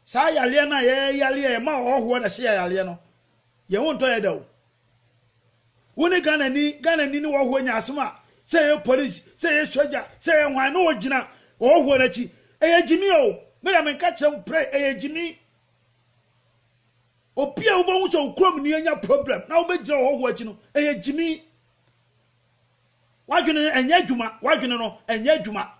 Saa yareɛ no a yɛyare a ɛma ɔhɔhoɔ na ɛhyɛ yɛn yareɛ no, yɛn ho ntɔ yɛ da o. Wo ne Ghanani, Ghanani ne ɔhɔhoɔ nya asɛm a, sɛ ɛyɛ police, sɛ ɛyɛ sogya, sɛ ɛyɛ hwan, na ɔgyina ɔhɔhoɔ no akyi. Ɛyɛ gyimi o, me deɛ menka kyerɛ wo pray, ɛyɛ gyimi. Obi a wobɛhu sɛ wo kurom ni anya problem na wobɛgyina ɔhɔhoɔ akyi no, ɛyɛ gyimi. W'adwene no ɛnyɛ adwuma, w'adwene no ɛnyɛ adwuma.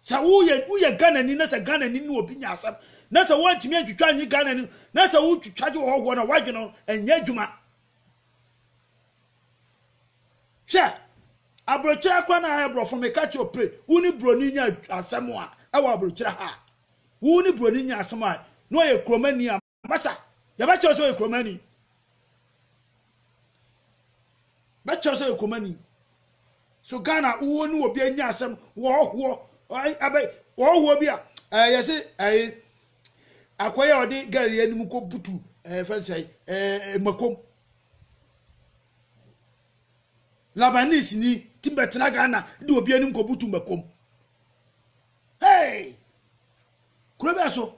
Sɛ woyɛ woyɛ Ghanani na sɛ Ghanani ne obi nya asɛm na sɛ woantumi antwitwa anyi Ghanani na sɛ wotwitwa gye wɔhɔhoɔ no a woadwene ho ɛnyɛ adwuma. Hwɛ, aburokyerɛ koraa na ayɛ borɔfo meka kyerɛ ope wo ne buroni nya asɛm a ɛwɔ aburokyerɛ ha a wo ne buroni nya asɛm a na ɔyɛ kuromani a Masa, yɛbɛkyerɛ sɛ ɔyɛ kuromani. Bɛkyerɛ sɛ ɔyɛ kuromani. So Ghana wo ne obi anya asɛm wɔhoɔ abɛ wɔhoɔ bi a ɛɛ yɛse ɛɛ akɔyɛ a ɔde girl yɛ anim kɔ butu ɛɛ fɛnsɛn ɛɛ makom. Labanese ni tim bɛtena Ghana de obi anim kɔ butu makom. Hey! Kuro bɛ so.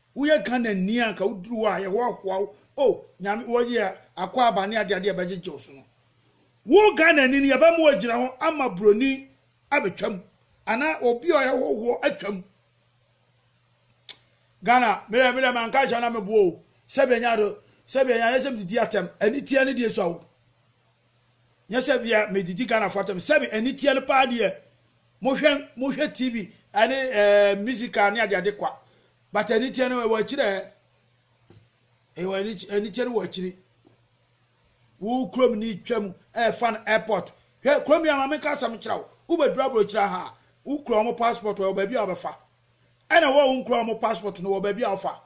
Woyɛ Ghana ni a anka woduru hɔ a ayɛ hɔ hoa wo oh Nyame wɔ yɛ akwaaba ne ade ade a ɛbɛgyegye wo so no wo Ghana ni no yɛbɛma wagyina hɔ ama broni abɛtwa mu anaa obi a ɔyɛ hɔ hoɔ atwa mu Ghana merɛ merɛ ma nka hyɛ na meboɔ o sɛbi ɛnya do sɛbi ɛnya yɛ sɛ mdidi atɛm ɛni tia ne die so awo nyɛ sɛ bia medidi Ghanafoɔ atɛm sɛbi ani teɛ no paa deɛ mohwɛ mohwɛ TV ɛne ɛɛ eh, musical ne adeade kwa but ani teɛ no ɛwɔ akyiri ɛ ɛwɔ ani teɛ no wɔ akyiri wo kurom ni twam ɛɛfa no airport hwɛ kurom yi ama menka asɛm kyerɛ wo wobɛduru aburokyerɛ ha wokura wɔn passport wɔ baabi a wɔbɛfa ɛna wɔ wo nkura wɔn passport no wɔ baabi a wɔfa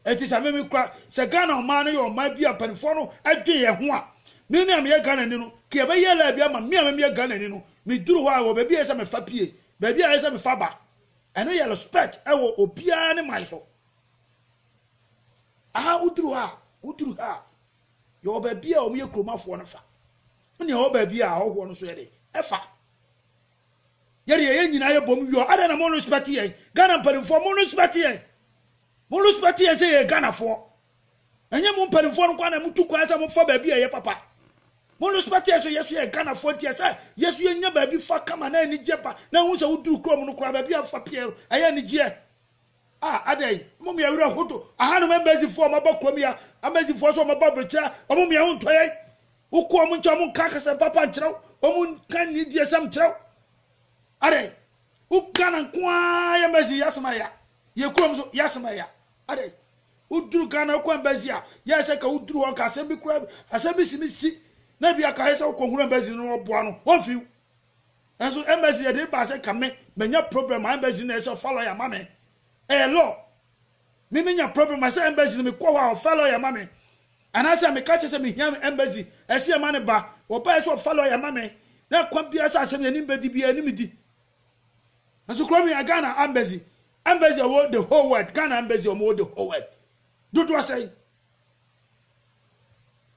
Enti sɛ me me kura sɛ Ghana ɔman no yɛ ɔman bi a mpaninfoɔ no dwen yɛn ho a, me me a meyɛ Ghanani no, ka yɛbɛ yɛ laabi ama me a me meyɛ Ghanani no, me duru hɔ a wɔ baabi a ɛsɛ me fa pie, baabi a ɛsɛ me fa ba. Ɛno yɛ respect wɔ obiara ne man so. Aha wo duru ha a, wo duru ha a, yɛ wɔ baabi a wɔn yɛ kuromafoɔ no fa. Wo nea wɔ baabi a ahɔhoɔ no so yɛ de, ɛfa. Yɛde yɛyɛ nyinaa yɛ bom yɔ, adɛn na mo respect yɛn, Ghana mpaninfoɔ mo respect yɛn. Mo respect yɛn sɛ yɛyɛ Ghanafoɔ. Ɛnyɛ mo mpanimfoɔ no nkoa na motu kwan sɛ mofa baabi a ɛyɛ papa. Mo respect yɛn so yɛso yɛ Ghanafoɔ nti ɛsɛ yɛso yɛnya baabi fa kama na anigyeɛ ba na wohu sɛ woduru kurom no koraa baabi a wofa pieɛ no ɛyɛ anigyeɛ. Ah adɛn? Ɔmo mia wura hoto ahanom embassy foɔ ɔmo aba kurom ya amazing foɔ so ɔmo aba ɔbɛkyerɛ ɔmo mia ho ntɔ yɛn wokɔ ɔmo nkyɛn ɔmo nka akasɛm papa nkyerɛw ɔmo nka nidie sɛm nkyerɛw adɛn Wo Ghana nko ara yɛ mɛzi yɛ asɛm aya. Yɛ kurom so yɛ asɛm aya. Adɛ woduru Ghana wokɔ embassy a yɛ sɛ ka woduru hɔ nka asɛm bi kura asɛm bi si mi si na bi aka yɛ sɛ wokɔ hunu embassy no ɔboa no wɔn fiw. Nanso embassy yɛ de ba sɛ ka me manya problem a embassy na yɛ sɛ ɔfa lawyer ma me. Ɛyɛ law. Me me nya problem a sɛ embassy no me kɔ hɔ a ɔfa lawyer ma me anaa sɛ me ka kyɛ sɛ me hia embassy ɛsɛ yɛ ma ne ba wɔ ba yɛ sɛ ɔfa lawyer ma me na ɛkwan biara sɛ asɛm yɛ ne mbɛdi biara ne me di nso kuro me a Ghana embassy embassy ɔwɔ the whole world Ghana embassy ɔmo wɔ the whole world dodoɔ sɛn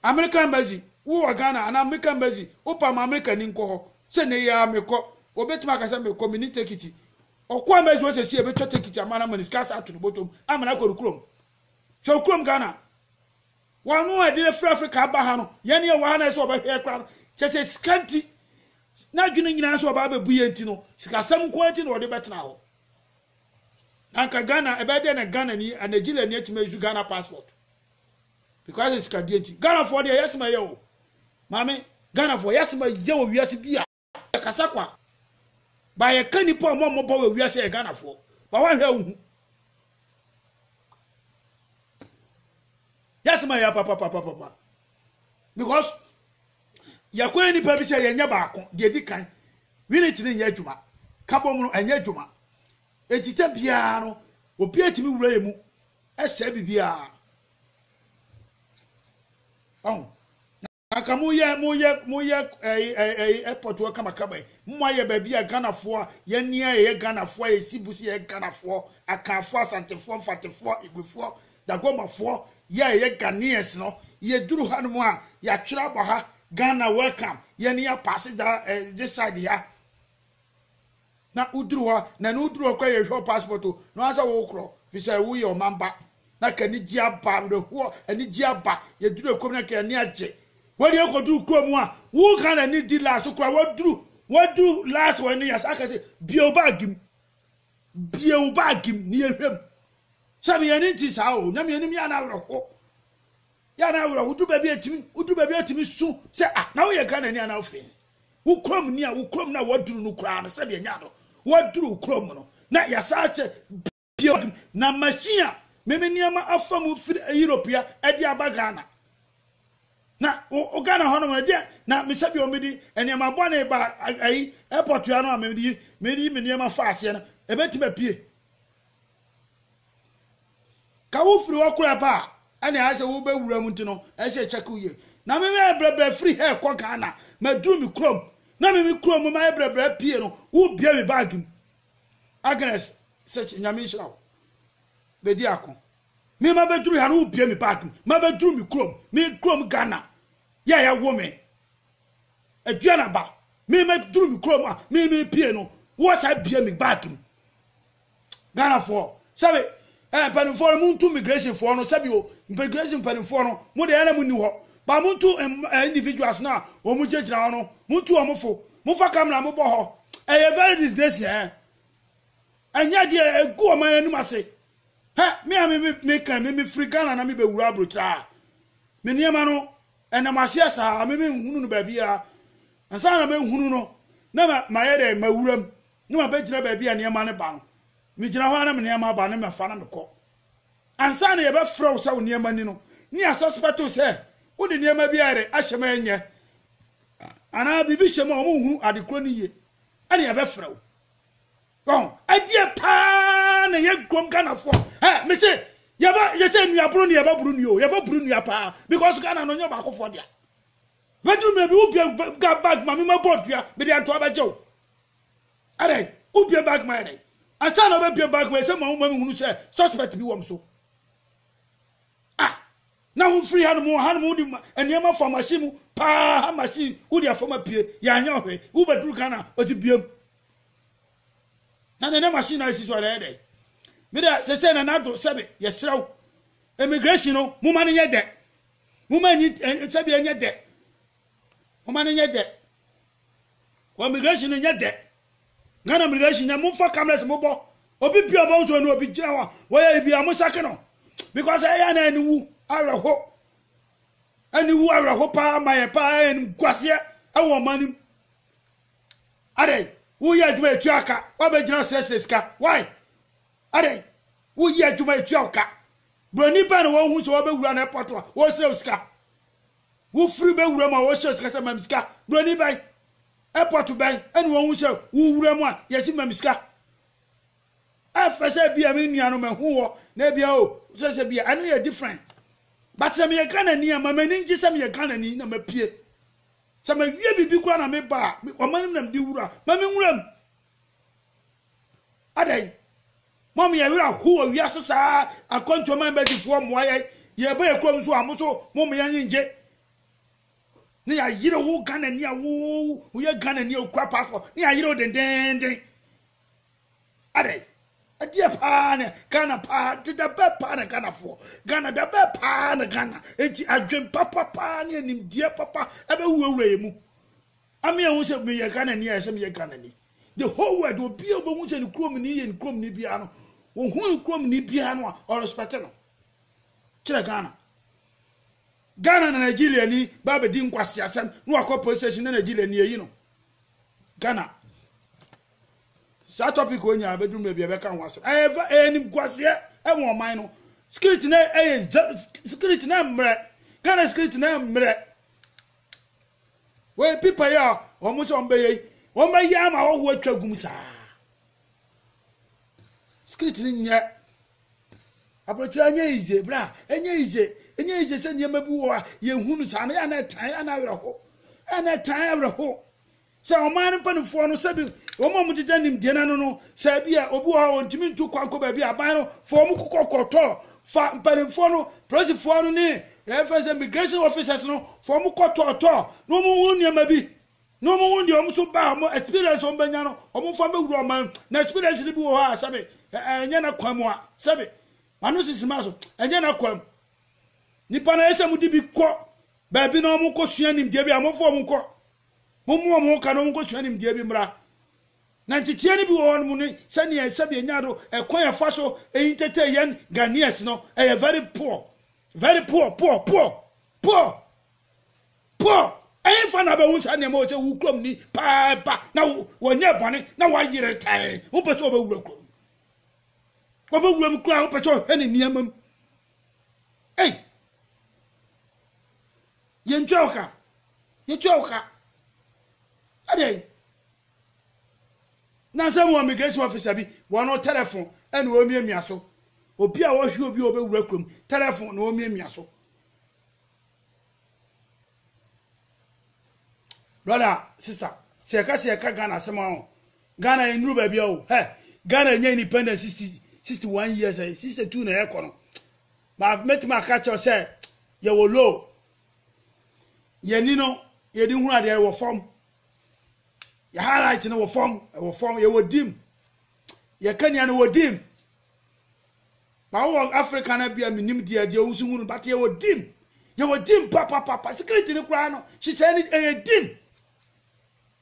Amerika Embassy, wo wɔ Ghana anaa Amerika Embassy, wo pam Amerika ni nkɔ hɔ, sɛ nnɛ yi ara mekɔ, obetumi aka sɛ mekɔ, menni tekiti. Ɔkɔ Embassy hɔ sɛsi a ebetwa tekiti ama no ama no sika asa ato no bɔtɔm ama no akɔ ne kurom. Hwɛ wo kurom Ghana. Wano a ɛde no afiri Afrika aba ha no, yɛn ne ɛwɔ ha na ɛsɛ ɔbɛhwɛ yɛ koraa no, kyɛ sɛ sika nti, n'adwene nyinaa sɛ ɔbaa bɛbu yɛn nti no, sikasɛm nko ara nti na ɔde bɛtena hɔ. na nka ghana ɛbɛyɛ dɛ na ghana ni a nigeria ni atumi ayi ghana passport because it's sika deɛ nti ghana foɔ deɛ yɛ asɛm ɛyɛ o maame ghana foɔ yɛ asɛm ɛyɛ wɔ wiase bi a yɛkasa kwa ba yɛka nipa a wɔn mmɔbɔ wɔ wiase yɛ ghana foɔ ba wɔahwɛ ahu yɛ asɛm ɛyɛ papapapapa. because yɛkɔ yɛ nipa bi sɛ yɛnyɛ baako deɛ edi kan unit no nyɛ adwuma kabom no ɛnyɛ adwuma eti tɛ biara no obi atumi wura yɛ mu ɛsɛ bibiara ɔho anka mo yɛ mo yɛ mo yɛ ɛyi ɛyi airport wɔ kamakama yi mo ayɛ baabi a ghanafoɔ yɛn ni a yɛyɛ ghanafoɔ a yɛsi busi yɛ ghanafoɔ akanfoɔ asantefoɔ mfatefoɔ igbefoɔ Dagomafoɔ yɛ yɛ Ghanaians no yɛduru ha nom a yɛatwerɛ abɔ ha Ghana welcome yɛne yɛ paase daa eh, this side ha na woduru hɔ na ne woduru hɔ kora yɛhwɛ wo passport o na wɔn sɛ wokorɔ fi sɛ woyɛ ɔman ba na ka anigye aba awerɛhoɔ anigye aba yɛduru ɛkɔm na ka ani agye wɔde akɔduru kuro mu a wo Ghana ni di last kora wɔduru wɔduru last wɔn ne yɛsa akɛse bio baagi mu Bue wo bag mu na yɛnhwɛ mu. Sɛ meyɛ no nti saa o, na menim yɛ a na awerɛho. Yɛ a na awerɛho. Wodu baabi a ɛtumi, wodu baabi a ɛtumi su sɛ ah, na woyɛ Ghanani anaa wofiri he? Wo kurom ni a, wo kurom na waduru no koraa no sɛdeɛ nyaa no. Waduru wo kurom no na yɛasan akyɛ bue bag mu na machine a meme nneɛma afa mu firi Europe ya de aba Ghana. Na wo wo Ghana hɔ nom no ɛdeɛ na me sɛbi wɔn mede nneɛma bɔne ba ayi airport yɛ ano a mede yi mede yi me nneɛma fa aseɛ no ɛbɛtumi apue ka wo firi hɔ kora pa a ɛne ayɛ sɛ wobɛwura mu nti no ɛyɛ sɛ ɛkyɛke wo yie na me mɛ brɛbrɛ firi ha ɛkɔ Ghana maduru me kurom na me me kurom mu mayɛ brɛbrɛ pie no wobia me baage mu Agnes sɛ nyame nhyira wo bɛdi ako Me mabɛduru ha no wobue me bag mu mabɛduru me kurom me kurom Ghana yɛ a yɛwo me aduane aba me mɛduru me kurom a me me pie no wowɔ saa bue me bag mu Ghanafoɔ sɛbe eh, mpanimfoɔ no montu migrationfoɔ no sɛbi o migration mpanimfoɔ no mo deɛ ɛna mo nni hɔ ba montu eh, individuals no a wɔn mo gyinagyina hɔ no montu wɔn fo mofa kamera mobɔ hɔ ɛyɛ very disgrace eh ɛnyɛ deɛ ɛgu ɔman anim ase Hɛ, me a me me meka me mefiri Ghana na mebɛwura aburokyerɛ ha. Me nneɛma no, ɛnam aseɛ saa, me menhunu no baabiara. Ansa na mɛhunu no, na ma mayɛ dɛn, mawura mu, na mabɛgyina baabi a nneɛma no ba no. Megyina hɔ ara na me nneɛma aba na mafa na mekɔ. Ansa na yɛbɛfrɛ wo sɛ wo nneɛma ni no, na yɛasuspect wo sɛ wode nneɛma bi ayɛ dɛn, ahyɛ mu a ɛnyɛ, anaa biribi hyɛ mu a wɔnhunu ade korɔ no yie, ɛnna yɛbɛfrɛ wo. Wɔn ɛdeɛ paa na yɛ kurom Ghanafoɔ ɛ mese yɛbɛ yɛsɛ nuaboro ne yɛbɛ buru nua o yɛbɛ buru nua paa because Ghana no nyɛ baakofoɔ deɛ bɛduru mmerɛ bi wobia ga bag ma mema bɔɔd dua mede antoa bɛgye o ɛdɛ wobia bag ma ɛdɛ ansa na wobɛbia bag ma ɛsɛ ma woma mehunu sɛ suspect bi wɔm so na wofiri hanom wɔ hanom wode nneɛma fa machine mu paa ha machine wode afam apue yɛanyɛ ɔhwɛ wobɛduru ghana ɔte biam na ne ne machine na esi so a na ɛyɛ dɛ me dɛ sese na nado sɛbi yɛsrɛ wo immigration no moma no nyɛ dɛ moma nyi sɛbi ɛnyɛ dɛ moma no nyɛ dɛ wɔ immigration no nyɛ dɛ ghana immigration nyɛ mofa cameras mobɔ obi pia ɔbɔ nso no obi gyina hɔ a wɔyɛ ibi a mosake no because ɛyɛ na ɛne wu awerɛho ɛne wu awerɛho paa ma yɛ paa ɛne guaseɛ ɛwɔ ɔma no mu Adɛn? Woyɛ adwuma a etua ka. Woabɛgyina srɛsrɛ sika. Why? Adɛn? Woyɛ adwuma a etua wo ka. Buroni bɛn na wohu sɛ wabɛwura n'airport a ɔresrɛ wo sika? Wofiri bɛwura mu a ɔresrɛ wo sika sɛ ma me sika. Buroni bɛn? Airport bɛn ɛna wohu sɛ wowura mu a yɛsi ma me sika? Ɛfɛ sɛ bi a me nua no mahu wɔ na ebi a o sɛ sɛ bi a ɛno yɛ different. But sɛ meyɛ Ghanani a ma m'ani ngye sɛ meyɛ Ghanani na mapue. Sɛ mawie biribi koraa na meba a, wɔma no nam de wura. Ma me nwura mu. Adɛn? Mom yɛ werɛ ho wɔ wiase saa akwantuo man bɛgyefoɔ mmoa yɛn. Yɛba yɛ kurom nso a, mo so mom yɛn ngye. Ne yɛayere wo Ghana ni a wo woyɛ Ghana ni a okura passport. Ne yɛayere wo dendeenden. Adɛn? Ɛdeɛ paa na Ghana paa de da bɛɛ paa na Ghana foɔ Ghana da bɛɛ paa na Ghana eti adwen papa paa ne animdeɛ papa ɛbɛ wurawura yɛ mu ame ɛho sɛ meyɛ Ghana ni ayɛ sɛ meyɛ Ghana ni the whole world obi a obɛhu sɛ ne kurom ni yɛ ne kurom ni biara no wɔhu ne kurom ni biara no a ɔrespɛte no kyerɛ Ghana Ghana na Nigeria ni ba bɛdi nkwasi asɛm na wakɔ police station na Nigeria ni ayi no Ghana Saa topic wɔ nyinaa bɛduru baabi a bɛka ho asɛm. Ɛyɛ fɛ, ɛyɛ animguaseɛ ɛwɔ ɔman no. Security no ɛyɛ security no mmerɛ. Ghana security no mmerɛ. Wei pipa yi a wɔn sɛ wɔn bɛyɛ yi, wɔn bɛyɛ ama ɔho atwa gum saa. Security no nyɛ. Aburokyerɛ nyɛ yize bra, ɛnyɛ yize, ɛnyɛ yize sɛ nneɛma bi wɔ a yɛhunu saa no yɛ a na ɛtan yɛ a na awerɛho. Ɛna ɛtan awerɛho. Sɛ ɔman no mpanimfoɔ no, sɛbi wɔn a wɔdeda nimdeɛ no ano no, sɛ ebi a obi wɔ hɔ a ɔntumi ntu kwan kɔ baabi a aban no fɔɔ wɔn kokɔ kɔtɔ fa mpanimfoɔ no, polisifoɔ no ne yɛfrɛ no sɛ migration officers no fɔɔ wɔn kɔtɔɔtɔ na wɔn ho nneɛma bi na wɔn ho deɛ wɔn nso baa wɔn experience wɔn bɛnya no wɔn fa bɛwura ɔman na experience no bi wɔ hɔ a sɛbi ɛnyɛ na kwan mu a sɛbi mano sisi ma so ɛnyɛ na kwan mu nipa na yɛ sɛ mo de bi kɔ baabi na wɔn kɔ sua nimdeɛ bi a wɔn fɔ wɔn kɔ. Mommu wɔn ho ka na wɔnkɔsua nimdeɛ bi mmra. Na nteteɛ no bi wɔ hɔ nom ne sɛdeɛ sɛdeɛ nyaa do ɛkwan a ɛfa so entetee yɛn Ghanaians no ɛyɛ very poor, very poor, poor, poor, poor, poor. Ɛhefa na abɛhu saa nneɛma wɔ sɛ wo kurom ni paa ɛba na wɔnyɛ bɔne na wɔayere tɛn wopɛ sɛ wɔbɛwura kurom wɔbɛwura mu koraa wopɛ sɛ ɔhwɛ ne nneɛma mu ei Yɛntua wo ka. Yɛtua wo ka. Adɛn? Nansa mu immigration officer bi, wɔn no tɛlɛfon ɛna wɔmiamia so. Obi a ɔhwe obi a ɔbɛwura kurom, tɛlɛfon na wɔmiamia so. Brother, sister, sɛ yɛka sɛ yɛka Ghana asɛm a Ghana yɛn nuru baabi a o. Hɛ, Ghana nya independence 60, 61 years, 62 na yɛkɔ no. Ma mɛtumi aka kyerɛ sɛ yɛwɔ low. Yɛni no yɛde hunu adeɛ wɔ fam. Yɛ highlight no wɔ fam, wɔ fam, yɛwɔ dim. Yɛ kania no wɔ dim. Ba wɔ Africa na bia menim deɛ deɛ wosu hunu but yɛwɔ dim. Yɛwɔ dim papapapa. Security no koraa no hyehyɛ no ɛyɛ dim.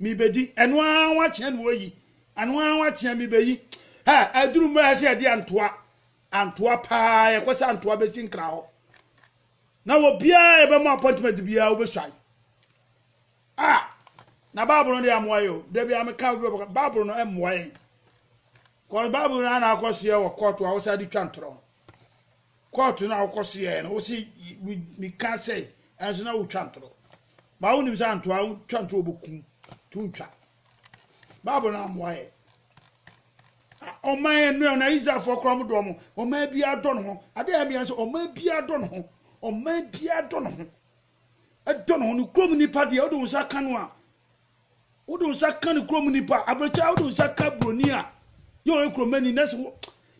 mebɛdi, ɛno ara wakyea na wɔyi, ɛno ara wakyea mebɛyi. Ha, aduru mmerɛ sɛ yɛde antoa, antoa paa, yɛkɔ sɛ antoa bɛsi nkra hɔ. Na wɔbiara yɛbɛma appointment biara wobɛsuae. Ah, na Bible no deɛ amoa yɛ o, da biara meka Bible no mmoa yɛn. Kɔ Bible no ana akɔsoɛ wɔ kɔɔto a wɔsan de twa ntorɔ. Kɔɔto no a wokɔ so yɛɛ no, wose meka sɛ ɛnso na wotwa ntoro. Ba wonim sɛ antoa twa ntoro wɔbɛkum to ntwa. Bible no ammoa yɛ. Ɔman ɛnu na Israelfoɔ koraa mo dɔɔ mo. Ɔman biara dɔ ne ho. Adeɛ a ɛmea sɛ ɔman biara dɔ ne ho. Ɔman biara dɔ ne ho. dɔ no ho no kurom nipa deɛ wode wo nsa ka no a wode wo nsa ka no kurom nipa abrɛkyɛ wode wo nsa ka buroni a yɛ ɔyɛ kuromani na sɛ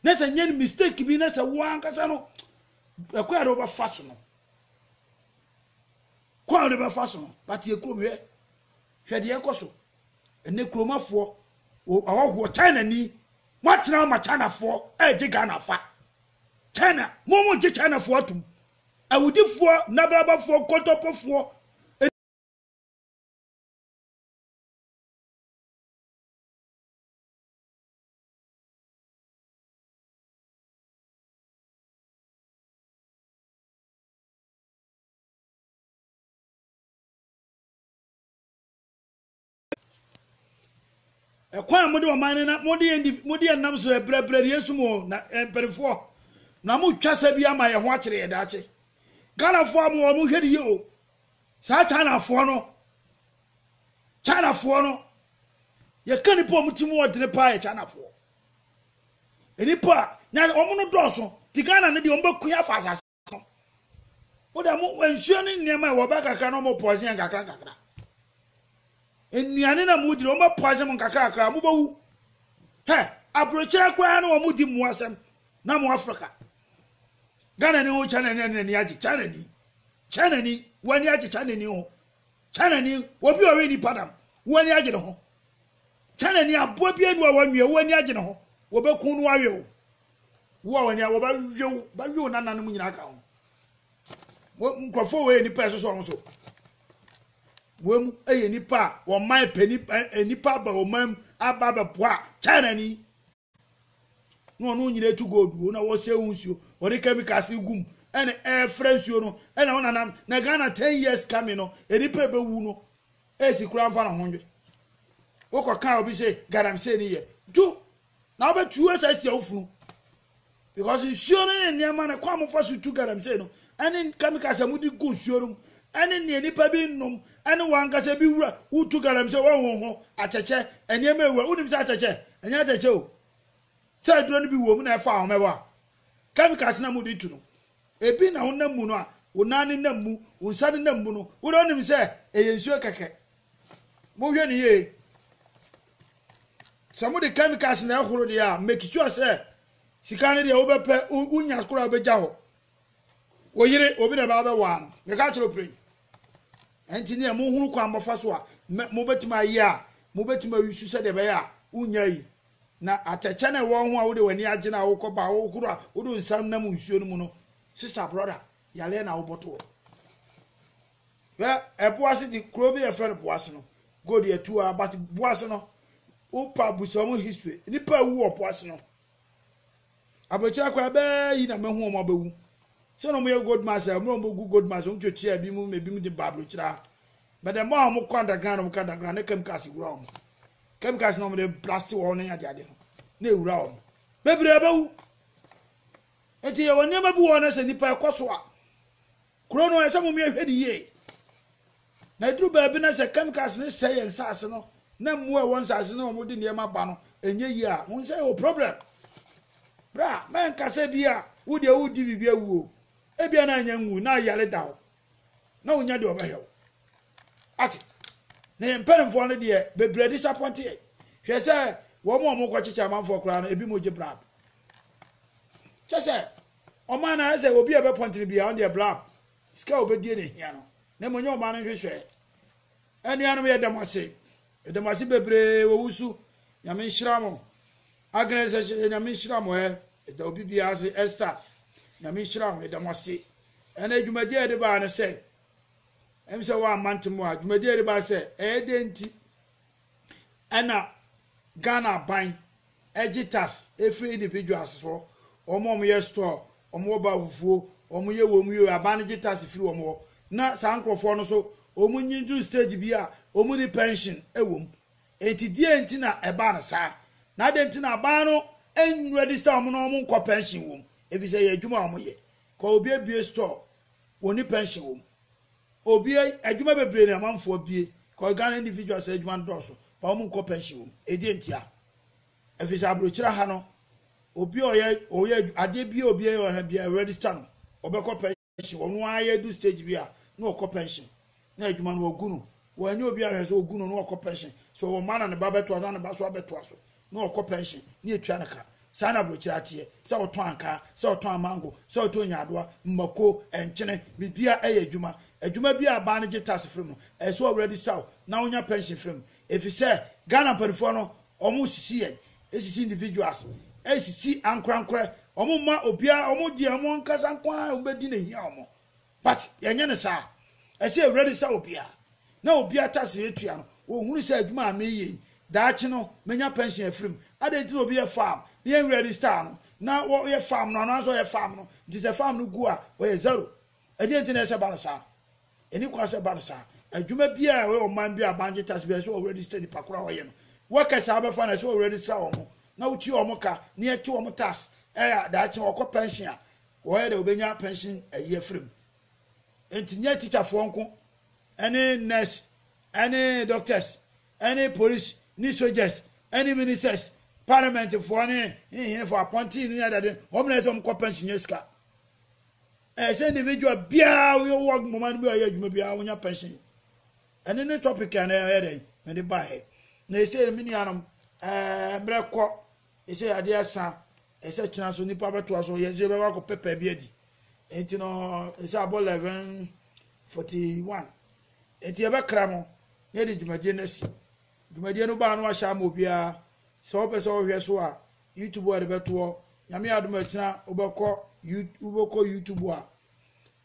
na sɛ nyɛ no mistake bi na sɛ wo ankasa no ɛkɔ a de wobɛfa so no kɔ a wode bɛfa so no but yɛ kurom hwɛ hwɛ deɛ ɛkɔ so ɛnɛ kuromafoɔ ɔhɔhoɔ china ni moatena ma chinafoɔ ɛregye ghanafa china mo mo gye chinafoɔ atom Awudifoɔ, nabalabafoɔ, nkontompofoɔ, ne. Ɛkwan a mode ɔman no na mode yɛn mode yɛn nam so ɛbrɛbrɛ yɛn sum o na mpanimfoɔ na mo twa sɛ bi ama yɛn ho akyerɛ yɛn daakye. Ghanafoɔ a mo wɔn hwɛ de yie o. Saa Chinafoɔ no Chinafoɔ no yɛka nipa a wɔn ti mu ɔdene paa yɛ Chinafoɔ. Nipa a na wɔn no dɔɔso ti Ghana no deɛ wɔn bɛko yɛ afa asase. wo da mo nsuo ne nneɛma ɛwɔ bɛ kakra na wɔn pɔɔsen yɛn kakra kakra nnuane na mo di na wɔn bɛ pɔɔsen mo nkakra kakra mo bɛ wu hɛ aburokyerɛ koraa na wɔn di mo asɛm na mo afirika ghana ni ho china ni ɛna ni agye china ni china ni wɔn ani agye china ni ho china ni obi a ɔwe nipa dam wɔn ani agye ne ho china ni aboa bi enu a wɔn nwie wɔn ani agye ne ho wɔbɛkun no awe o. Wo a w'ani a wɔbɛwe wo, bɛwe wo nananom nyinaa ka ho. Nkurɔfoɔ wɔ yɛ nnipa a ɛsosɔ wɔn so. Wɔn mu yɛ nnipa a wɔn man pɛ nnipa aba wɔn man mu aba abɛboa China ni. Na wɔn nyinaa etu gold wo na wɔsɛ wo nsuo, wɔde chemicals gu mu ɛna ɛfrɛ nsuo no ɛna wɔn nanam na Ghana ten years coming no nnipa ebewu no esi kura nfa na ho nwe. Wokɔ kan obi sɛ galamsey ni yɛ. Ju na wobɛtu asa asi awofo no because nsuo no ne nneɛma no kwan mofa so tu galamsey no ɛne chemicals a mode gu nsuo no mu ɛne nea nipa bi nnom ɛne wankasa bi wura wotu galamsey wɔnhoho atɛkyɛ nneɛma ewura wonim sɛ atɛkyɛ ɛnyɛ atɛkyɛ o sɛ aduro no bi wɔ mu na ɛfa ahomɛbɔ a chemicals na mode tu no ebi na wonam mu no a wo nan ne nam mu wo nsa ne nam mu no wode wonim sɛ ɛyɛ nsuo kɛkɛ mohwɛ ne yie Sɛ mode chemicals na ɛhoro deɛ a, make sure sɛ sika no deɛ wobɛpɛ, wonya koraa wobɛgya hɔ. Wo yere, obi na ɛbaa bɛwaa no. Meka akyerɛ wo pray. Ɛnti neɛ mohunu kwan mmɔfa so a, mobɛtumi ayɛ a, mobɛtumi ayusu sɛdeɛ ɛbɛyɛ a, wonya yi. Na atɛkyɛ na ɛwɔ ho a wode w'ani agye no a wokɔ ba a wohoro a, wode nsa nam nsuo no mu no, sister, brother, yareɛ na wobɔto hɔ. Hwɛ ɛpo ase de kuro bi yɛfrɛ no po ase no go deɛ tu a but po ase no wopa busa wɔn history nipa ewu wɔ po ase no abɔkyerɛ koraa bɛɛ yi na mɛhu wɔn abɛwu sɛ na wɔn yɛ gold mines a wɔn bɛgu gold mines wɔn twɛtwi a ebi mu ebi mu de ba abɔkyerɛ but the more a wɔn kɔ underground wɔn kɔ underground ne chemicals wura wɔn chemicals na wɔn de blast wɔn ne ade ade no na ewura wɔn bebree abɛwu eti yɛ wɔn nneɛma bi wɔ hɔ na sɛ nipa ɛkɔ so a. Kuro no ɛsɛ mumia hwɛ ne yie. Na ɛduru baabi na sɛ chemicals no sɛe yɛn nsaase no na mmoa ɛwɔ nsaase no wɔn de nneɛma ba no ɛnyɛ yie a mo nsa ɛwɔ problem. Bra mɛnka sɛ bi a wo deɛ wo di biribi awuo ebi a na anya nwu na ayare da hɔ na wonya deɛ ɔbɛhwɛ wo ate na yɛn mpanimfoɔ no deɛ bebree disappoint yɛ hwɛ sɛ wɔn a wɔkɔ kyekyɛ amanfoɔ koraa no ebi mo gye brab kyɛ sɛ Ɔman no ayɛ sɛ obi a ɛbɛpɔntene biara, ɔno deɛ blab, sika a ɔbɛdie na ɛhia no, na mmom ɛnyɛ ɔman no nhwehwɛɛ. Anuanom, yɛda mo ase. Yɛda mo ase bebree wɔ wusu. Nyame nhyira mo. Agnes Ɛhyehyɛ, Nyame nhyira mo ɛ. Yɛda obi biara ase. Esther, Nyame nhyira mo. Yɛda mo ase. Ɛnɛ dwumadie a yɛde baa no sɛ, ɛm sɛ wɔamma ntem a, dwumadie a yɛde baa sɛ, ɛyɛ dɛn nti? Ɛna Ghana aban ɛgye tax ɛfiri individuals hɔ, wɔn a wɔyɛ store, wɔn wɔ bafufuo, wɔn yɛ wɔn yɛ, aban no gye tax firi wɔn hɔ. Na saa nkorɔfoɔ no so wɔn nyini duru stage bi a wɔn ni pension ɛwɔ mu. Enti deɛ nti na ɛbaa no saa? Na adɛn nti na aban no ɛnregister wɔn na wɔn nkɔ pension wɔ mu? Ɛfiri sɛ ɛyɛ adwuma a wɔn yɛ. Kɔ obi abue store, wɔn ni pension wɔ mu. Obi adwuma bebree na amanfoɔ abue because Ghana individuals adwuma no dɔɔso but wɔn nkɔ pension wɔ mu. Ɛdeɛn ntia? Ɛfiri sɛ aburokyire ha no obi a ɔyɛ ɔyɛ adeɛ bi a obi a ɔyɛ bi a register no ɔbɛkɔ pension ɔno ara yɛ du stage bi a na ɔkɔ pension na adwuma no ɔgu no wɔn ani obi ahwɛ so ɔgu no na ɔkɔ pension so ɔwɔ mma na ne ba bɛtoa so na ne ba so abɛtoa so na ɔkɔ pɛnhyen na yɛtua no ka. Saa na aburokyire ara teɛ, sɛ wotɔn ankaa, sɛ wotɔn amango, sɛ wotɔn nyaadoa, mmako, nkyene, biribiara yɛ adwuma. Adwuma biara a baa no gye tax firi mu, ɛsɛ sɛ ɔwura bisa wo na wonya pɛnhyen firi mu. Ɛfiri sɛ Ghana mpaninfoɔ no, wɔresisi yɛn, resisi individuals, resisi ankorankorɛ, wɔmma obiara, wɔn deɛ wɔn ankasa nko ara na wɔbɛdi na ɛhia wɔn. But yɛnyɛ no saa. Ɛsɛ yɛ register obiara na obiara tax a yɛtua no, wɔhunu sɛ adwuma a mereyɛ yi, daakye no mɛnya pension afiri mu. Adɛn nti na obi yɛ farm na yɛn register no na ɔyɛ farm no ɔno ara nso ɔyɛ farm no nti sɛ farm no gu a ɔyɛ zero? Ɛdeɛn nti na ɛsɛ ba no saa? Ɛni kwan sɛ ɛba no saa. Adwuma biara a ɛwɔ ɔman bi a bangye tax biara ɛsɛ sɛ wɔ register nipa koro a ɔyɛ no. Workers a wobɛfa no ɛsɛ sɛ wɔ register wɔn na wotua wɔn ka na yɛte wɔn tax a daakye wɔkɔ pension a Wɔyɛ dɛ wobenya pension ayi afiri mu. Enti nyɛ tikyafoɔ nko ne nurse ne doctors ne police ne soldiers ne ministers, parliamentfoɔ ne hehenefoɔ, apɔntee no nyadade, wɔn na ɛsɛ wɔn kɔ pension nya sika. Ɛyɛ sɛ individual biara woyɛ wɔ moma no bi a ɔyɛ adwuma biara wonya pension. Ɛne ne topic a na ɛyɛ dɛ mede baeɛ. Na ɛsɛ me nuanom ɛɛ mmerɛ kɔ Ɛsɛ adeɛ asa, ɛsɛ kyena so nipa bɛtoa so, yɛn nso yɛbɛba akɔ pɛpɛ bi adi. Nti no, ɛsɛ abɔ 11:41. Nti yɛbɛkra no na yɛde dwumadie no asi. Dwumadie no baa no ahyɛ ama obiara. Sɛ wopɛ sɛ wohwɛ so a, YouTube a yɛde bɛtoɔ. Nyame adom akyina wobɛkɔ wobɛkɔ YouTube a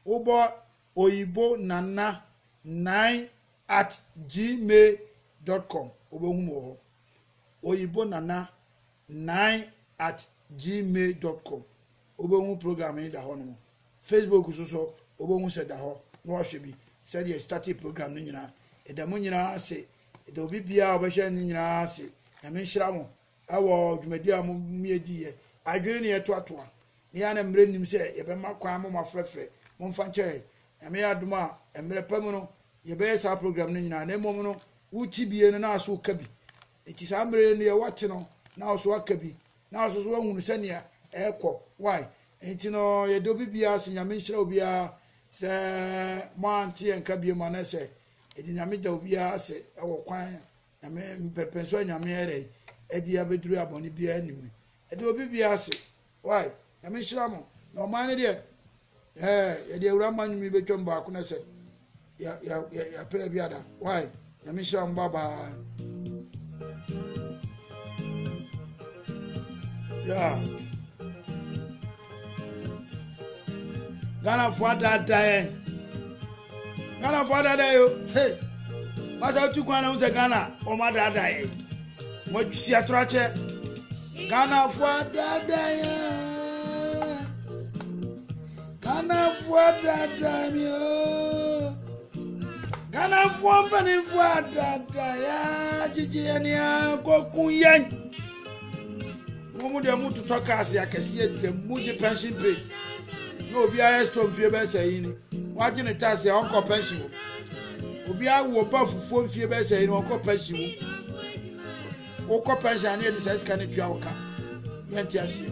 wobɔ oyibo nana nine at gmail.com wobɛhu mu wɔ hɔ. oyibonana nnan at gmail dot com wobɛhu program yi da hɔ nom facebook so so wobɛhu sɛ da hɔ na wahwɛ bi sɛdeɛ ɛstate program no nyinaa ɛda mu nyinaa ase ɛda obi biara ɔbɛhwɛ no nyinaa ase nyame nhyira mo ɛwɔ dwumadi a momiɛdiiɛ adwene ne ɛtoatoa ne yɛ na mmerɛ nim sɛ yɛbɛma kwan mo mafrɛfrɛ momfa nkyɛ yɛ nyame yɛ adom a mmerɛ pa mu no Yɛbɛyɛ saa program no nyinaa, na mmom no, wo tebea no, na aso woka bi. Enti saa mmerɛ yi no, yɛ woate no, na aso aka bi, na aso so ahunu sɛnea ɛrekɔ. Why? Enti no, yɛde obi biara se Nyame nhyira obiara sɛ moante yɛn ka biom anɛ sɛ ɛde Nyame da obiara ase ɛwɔ kwan Nyame mpɛmpɛnso a Nyame ɛrɛ ɛde abɛduru abɔne biara nim ɛde obi biara ase Wai, Nyame nhyira mo, na ɔman no deɛ, ɛɛ, yɛde awura mma nnwom yi bɛtwam baako na sɛ, yɛ, yɛ, yɛ, yɛpɛ bi ada. Wai, Nyame nhyira mo, bye-bye. Yeah. Ghana for that day. Ghana fo adada yɛ o hey Masa wotu kwan na hu sɛ Ghana wɔn adada yɛ Mo atwisi atoro akyɛ Ghana fo adada yɛ Ghana fo adada mi o Ghana fo mpani fo adada yɛ Gyigye yɛ ni a kokun yɛn Mo mu deɛ mo totɔ cars akɛseɛ ntɛm mo gye pension pay na obiara yɛ store mfie bɛyɛ sɛ yi ni wagye ne tax a ɔnkɔ pension wɔ mu obiara wɔ ba fufuo mfie bɛyɛ sɛ yi ni ɔnkɔ pension wɔ mu wokɔ pension a ne yɛde saa sika no tua wo ka yɛnte aseɛ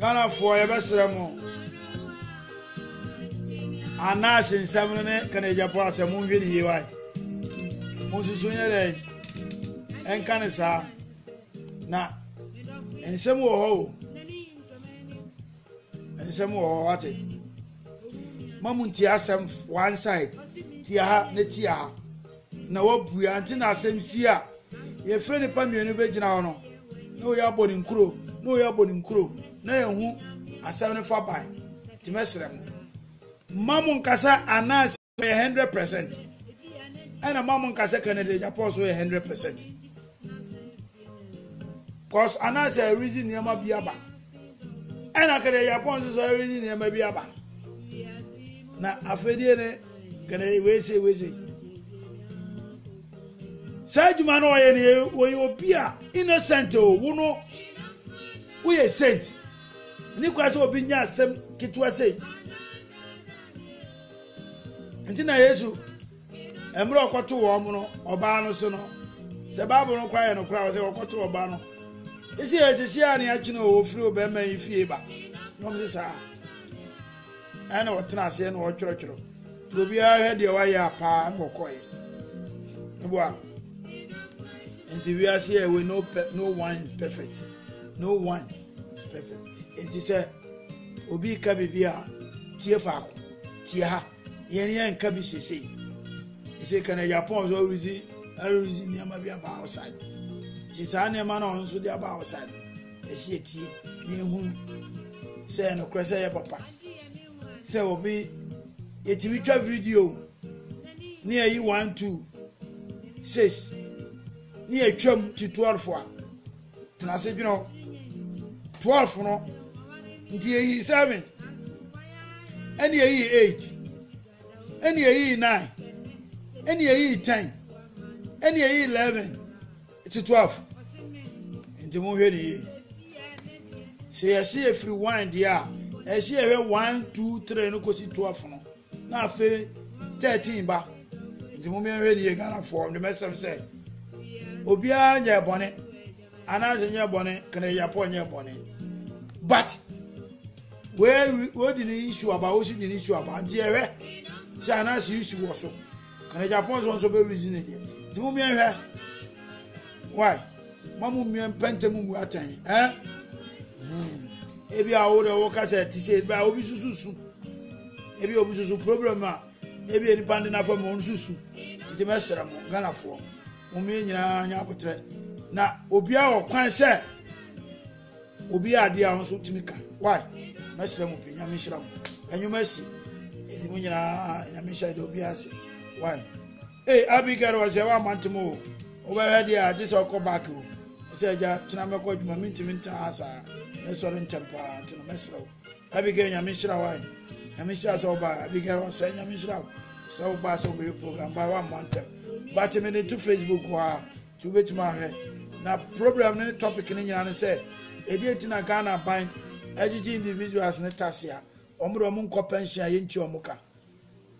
ghanafoɔ yɛbɛsrɛ mo anaase nsɛm no ne kanadyafoɔ asɛm monhwɛ ne yie wae monsusu nyɛ dɛ ɛnka ne saa na nsɛm wɔ hɔ o Nsɛm wɔ hɔ wate. Ma mu nti asɛm one side tia ha na tia ha na wabue ante na asɛm si a yɛfrɛ nipa mmienu bɛgyina hɔ no na wɔyɛ abɔ ne nkuro na wɔyɛ abɔ ne nkuro na yɛhu asɛm no fa ban nti mɛsrɛ mo ma mo nkasa anaasɛ yɛ hundred percent ɛna mo a mo nka sɛ canada agya paul so yɛ hundred percent cause anaasɛ ɛrezi nneɛma bi aba ɛna canada agya paul nso so ɛrezi nneɛma bi aba na afɛdeɛ ne canada wese wese saa adwuma no ɔyɛ no wɔyɛ obi a innocent o wo no woyɛ saint ne kwa sɛ obi nya asɛm ketewa sei nti na yesu mmerɛ ɔkɔto wɔn no ɔbaa no so no sɛ bible no koraa yɛ no koraa sɛ ɔkɔto ɔbaa no ɛsi yɛ sisi a ne akyene o wɔfiri ɔbɛrima yi fie ba na ɔm se saa ɛna ɔtena aseɛ na ɔtwerɛtwerɛ nti obiara hwɛ deɛ wayɛ a paa na ɔkɔɛ meboa nti wiase a we no, no one is perfect no one is perfect nti sɛ Obi reka biribi a, tie faako. Tie ha. Yɛne yɛnka bi sesei. Ɛsɛ ka na Japan nso ɔredzi ɔredzi nneɛma bi aba outside. Ɛsɛ saa nneɛma na ɔno nso de aba outside. Ɛsɛ yɛtie na yɛhunu sɛ yɛ nokorɛ sɛ yɛ papa. Sɛ obi yɛtumi twa video ne yɛyi one two six ne yɛtwam tutorial fo a Tena ase dwene hɔ. Twelve no, nti yɛyi seven, ɛne yɛyi eight, ɛne yɛyi nine, ɛne yɛyi ten, ɛne yɛyi eleven, ɛti twelve. Nti mo hwɛ ne yie. Sɛ yɛsi efiri one deɛ a, ɛsi yɛhwɛ one two three no kɔsi twelve no. na afei thirteen ba nti mo mmiɛnhwɛ nie ghanafoɔ ndemɛsɛm sɛ obiara nyɛ bɔne anaasɛ nyɛ bɔne kanayapɔ nyɛ bɔne but wei wodi ne issue aba wosi di ne issue aba nti ɛhwɛ sɛ anaasɛ issue wɔ so. Ɛna Japan so nso bɛ reason ne deɛ. Nti mo mmea hwɛ. Why? Ma mo mmea mpɛntɛ mu mu atɛn. Eh? Hmm. Ebi a wo de wo kasa ti sɛ ebi a obi susu su. Ebi obi susu problem a ebi a nipa de nafa mu ɔno susu. Nti mɛsrɛ mo Ghanafoɔ. Mo mmea nyinaa nya abotrɛ. Na obiara wɔ kwan sɛ Obi yɛ adeɛ a wo nso tumi ka why mɛsrɛ mo pii nyame nhyira mo ɛnwom asi ɛdi mo nyinaa nyame nhyɛ de obi ase why ee Abigail wɔ sɛ woama ntem o wobɛhwɛ deɛ a gye sɛ ɔkɔ back o ɛsɛ agya kyena mɛkɔ adwuma mentumi ntena ha saa mɛsɔre ntɛm paa nti no mɛsrɛ wo Abigail nyame nhyira why nyame nhyira sɛ wobaa Abigail wɔ sɛ nyame nhyira wo sɛ wobaa sɛ wobɛyɛ program baa woama ntem bate me ne to Facebook hɔ a Nti wobɛtumi ahwɛ. Na problem no ne topic no nyinaa ne sɛ ɛdeɛn nti na Ghana aban agyegye individuals no tax a wɔn de wɔn nkɔ pension a yɛntua wɔn ka.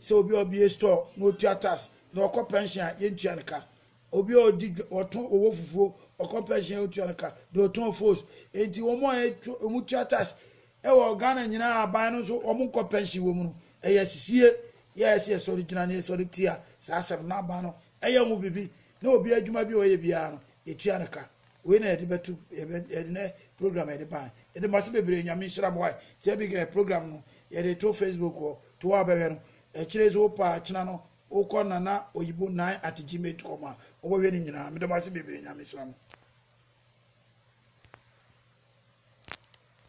Sɛ obi a ɔbie store na ɔtua tax na ɔkɔ pension a yɛntua no ka. Obi a ɔdi ɔtɔn ɔwɔ fufuo ɔkɔ pension a yɛntua no ka. Deɛ ɔtɔn foos. Nti wɔn a wɔn tua tax ɛwɔ Ghana nyinaa aban no nso wɔn nkɔ pension wɔ mu no ɛyɛ asisie yɛ ɛsɛ yɛsɔre gyina na yɛsɔre tia saa asɛm no na aban no Ɛyɛ ho biribi na obiara adwuma bi a ɔyɛ biara no yɛtua no ka wei na yɛde bɛto yɛde ne program yɛde ban yɛde ma se bebree nyame nhyira mo wae ti abi kɛ program no yɛde to facebook hɔ to hɔ abɛhwɛ no ɛkyerɛ so wopa akyena no wokɔ nana oyibo 9 at gmail.com a wobɛhwɛ no nyinaa mede mo ase bebree nyame nhyira mo